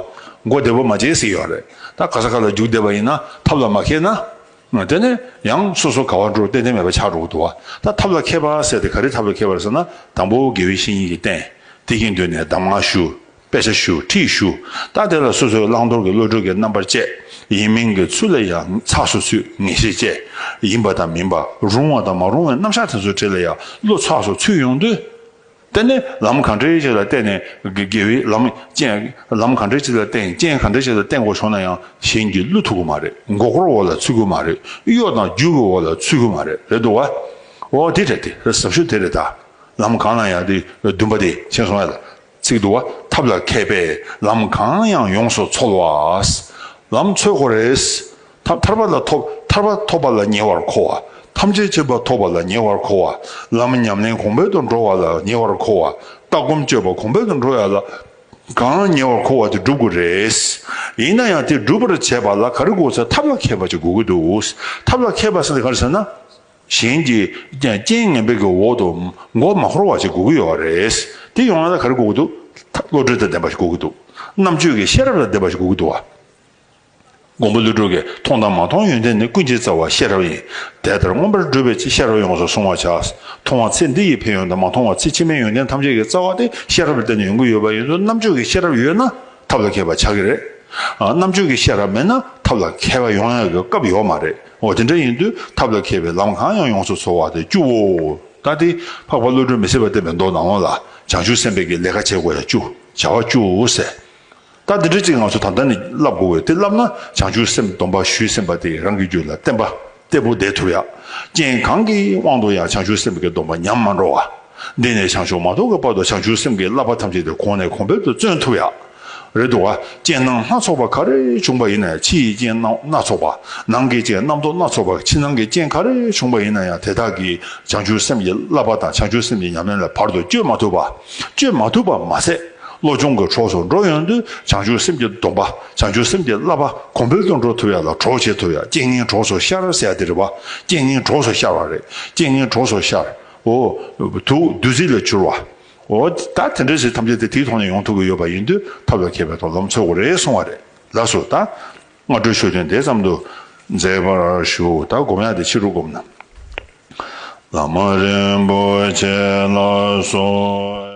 མགོ་བདེ་བོ་མ་བྱེད་ཟེར་ཡོད་རེད། ད་ག་ས་ག་ལ་རྒྱུགས་བསྡད་པ་ཡིན་ན་ཐབས་ལ་མ་མཁས་ན། དེ་ནས་ཡང་སོ་སོ་ག་བ་འགྲོ་ཏན་ཏན་མེད་པ་ཆགས་འགྲོ་གི་འདུག་བ། ད་ཐབས་ལ་མཁས་པ་ཟེར་དེ་ག་རེ་ཐབས་ལ་མཁས་པ་རེད་ཟེར་ན་དང་པོ་དགེ་བའི་བཤེས་གཉེན་གྱིས་བསྟན། དེ་གིས་འདོད་ནས་གདམས་ངག་ཞུ། དཔེ་ཆ་ཞུ་ཁྲིད་ཞུ་ད་དེ་ལ་སོ་སོའི་བླང་དོར་གྱི་བློ་གྲོས་ཀྱི་རྣམ་པར་བཅས་ཡིན་མིན་གྱི་ཚུལ་ལ་ཡང་ཚགས་སུ་ཚུད་ངེས་ཤེས་བཅས་ཡིན་པ་དང་མིན་པ་རུང་བ་དང་མ་རུང་བའི་རྣམ་གཞག་དེ་ཚོ་ཁྲིད་ལ་ཡང་བློ་ཚགས་སུ་ཚུད་ཡོང་དུས། དེ་ནི་ལམ་གང་འདྲའི་ཞིག་ལ་བརྟེན་ནས་དགེ་བའི་ལམ་རྐྱེན་ལམ་གང་འདྲའི་ཞིག་ལ་བརྟེན་རྐྱེན་གང་འདྲའི་ཞིག་ལ་བརྟེན་དགོས་བྱུང་ན་ཡང་གཞན་གྱི་བློ་ཐུག་གི་མ་རེད་མགོ་སྐོར་འོག་ལ་ཚུད་གི་མ་རེད་གཡོ་དང་རྒྱུག་གི་འོག་ལ་ཚུད་གི་མ་རེད་རེད་འདུག་བ། འོ་དེ་རེད་དེ་ཟབ་ཞུགས་དེ་རེད་ད། ལམ་གང་ན་ཡང་དེ་འདུན་པ་དེ་བྱས་སོང་ཡ་ལ། ཚིག་བསྡུ་བ་ཐབས་ལ་མཁས་པས་ལམ་གང་ཡང་ཡོངས་སུ་ཚོལ་བ། ལམ་ཚོལ་གོ་རེས། ཐབས་ཐར་པ་ལ་ཐོབ་ཐར་པ་ཐོབ་པ་ལ་ཉེ་བར་མཁོ་བ། ཐམས་ཅད་ཅེས་པ་ཐོབ་པ་ལ་ཉེ་བར་མཁོ་བ། ལམ་ཉམས་ལེན་གོང་འཕེལ་དུ་འགྲོ་བ་ལ་ཉེ་བར་མཁོ་བ། ལྟ་སྒོམ་སྤྱོད་པ་གོང་འཕེལ་དུ་འགྲོ་ཡ་ལ་གང་ཉེ་བར་མཁོ་བ་དེ་བསྒྲུབ་དགོས་རེས། ཡིན་ན་ཡང་དེ་སྒྲུབ་པར་བྱེད་པ་ལ་ག་རེ་དགོས་ཟེར་ཐབས་ལ་མཁས་པ་ཅིག་དགོས་ཀྱི་འདུག་ཐབས་ལ་མཁས་པ་ཟེར་ནི་ག་རེ་ཟེར་ན། གཞན་གྱིས་རྐྱེན་ངན་པའི་གི་འོག་ཏུ་མགོ་མ་འཁོར་བ་ཞིག་དགོས་ཀྱི་ཡོད་པ་རེད། དེ་ཡོང་ན་ད་ག་རེ་དགོས་ཀྱི་འདུག་ད་བློ་གྲོས་དང་ལྡན་པ་ཞིག་དགོས་ཀྱི་འདུག་རྣམ་དཔྱོད་ཀྱི་ཤེས་རབ་དང་ལྡན་པ་ཞིག་དགོས་ཀྱི་འདུག་བ། མགོན་པོ་ཀླུ་སྒྲུབ་ཀྱིས་མཐོང་དང་མ་མཐོང་ཡོན་ཏན་ནི་ཀུན་བྱེད་རྩ་བ་ཤེས་རབ་ཡིན། དེ་ལྟར་མངོན་པར་བསྒྲུབས་པའི་ཤེས་རབ་ཡོངས་སུ་བཟུང་བར་བྱ། མཐོང་བ་ཚེ་འདི་ཡི་ཕན་ཡོན་དང་མ་མཐོང་བ་ཚེ་ཕྱི་མའི་ཡོན་ཏན་ཐམས་ཅད་ཀྱི་རྩ་བ་དེ་ཤེས་རབ་ལ་བརྟེན་ནས་ཡོང་གི་ཡོད་པ་ཡིན་དུས་རྣམ་དཔྱོད་ཀྱི་ཤེས་རབ་ཡོད་ན་ཐབས་ལ་མཁས་པ་ཆགས་ཀྱི་རེད། རྣམ་དཔྱོད་ཀྱི་ཤེས་རབ་མེད་ན་ཐབས་ལ་མཁས་པ་ཡོང་ཡག་གི་སྐབས་ཡོད་མ་རེད། འོ་དེ་འདྲ་ཡིན་དུས་ཐབས་ལ་མཁས་པའི་ལམ་གང་ཡང་ཡོངས་སུ་ཚོལ་བ་དེ་བཅུ་བོ། ལྟ་སྟེ། འཕགས་པ་བློ་གྲོས་མི་ཟད་པ་བསྟན་པའི་མདོ་ནག་མོ་ལ། བྱང་ཆུབ་སེམས་དཔའི་གི་ལས་ཀ་བྱེད་དགོས་ཡ་བཅུ། བྱ་བ་བཅུ། ཟེར། ལྟ་འདི་འདྲ་ཅིག་ང་ཚོ་ད་ལྟ་ནས་བསླབ་དགོས་བས་དེ་བསླབ་ན་བྱང་ཆུབ་སེམས་སྡོམ་པ་ཞུས་སེམས་པ་དེ་རང་གི་རྒྱུད་ལ་བརྟན་པ་སྟེ་བུ་འདེད་ཐུབ་ཡ། རྐྱེན་གང་གི་དབང་དུ་ཡང་བྱང་ཆུབ་སེམས་དཔའི་སྡོམ་པ་ཉམས་མ་འགྲོ་བ། འདི་ནས་བྱང་ཆུབ་མ་རྟོགས་ཀྱི་བར་དུ་བྱང་ཆུབ་སེམས་ཀྱི་བསླབ་པ་ཐམས་ཅད་དེ་གོང་ནས་གོང་འཕེལ་དུ་བརྩོན་ཐུབ་ཡ། རེད་འདུག་ག་རྐྱེན་སྣང་སྣ་ཚོགས་པ་ག་རེ་བྱུང་པ་ཡིན་ན་ཡང་ཕྱི་ཡི་རྐྱེན་སྣང་སྣ་ཚོགས་པ། ནང་གི་རྐྱེན་རྣམ་རྟོག་སྣ་ཚོགས་པ་ཕྱི་ནང་གི་རྐྱེན་ག་རེ་བྱུང་པ་ཡིན་ན་ཡང་དེ་དག་གིས་བྱང་ཆུབ་སེམས་ཀྱི་བསླབ་པ་དང་བྱང་ཆུབ་སེམས་ཀྱི་ཉམས་ལེན་ལ་བར་དུ་གཅོད་མ་ཐུབ་པ། གཅོད་མ་ཐུབ་པ་མ་ཟད་བློ་སྦྱོང་གི་གྲོགས་སུ་འགྲོ་ཡོང་དུས་བྱང་ཆུབ་སེམས་ཀྱི་སྡོམ་པ་བྱང་ཆུབ་སེམས་ཀྱི་བསླབ་པ་གོང་འཕེལ་དུ་འགྲོ་ཐུབ་ཡ་ལ་གྲོགས་བྱེད་ཐུབ་ཡ་རྐྱེན་ངན་གྲོགས་སུ་ཤར་ཟེར་ཡ་དེ་རེད་བ་རྐྱེན་ངན་གྲོགས་སུ་ཤར་བ་རེད་རྐྱེན་ངན་གྲོགས་སུ་ཤར། འོ། དུག་བདུད་རྩི་ལས་བྱུར་བ། འོ། ད་དེ་འདྲའི་ཟས་ཐམས་ཅད་དེ་དེའི་ཐོག་ནས་ཡོང་ཐུབ་ཀྱི་ཡོད་པ་ཡིན་དུས་ཐབས་ལ་མཁས་པའི་ཐོག་ལམ་འཚོལ་དགོས་རེད་གསུང་བ་རེད་ལགས་སོ། ད་སྔ་འགྲོས་ཤོད་དོན་དེ་ཙམ་དུ་མཛད་པར་ཞུ། ད་སྒོམ་ཡག་དེ་ཕྱི་རུ་སྒོམ་ན། བླ་མ་རིན་པོ་ཆེ་ལགས་སོ།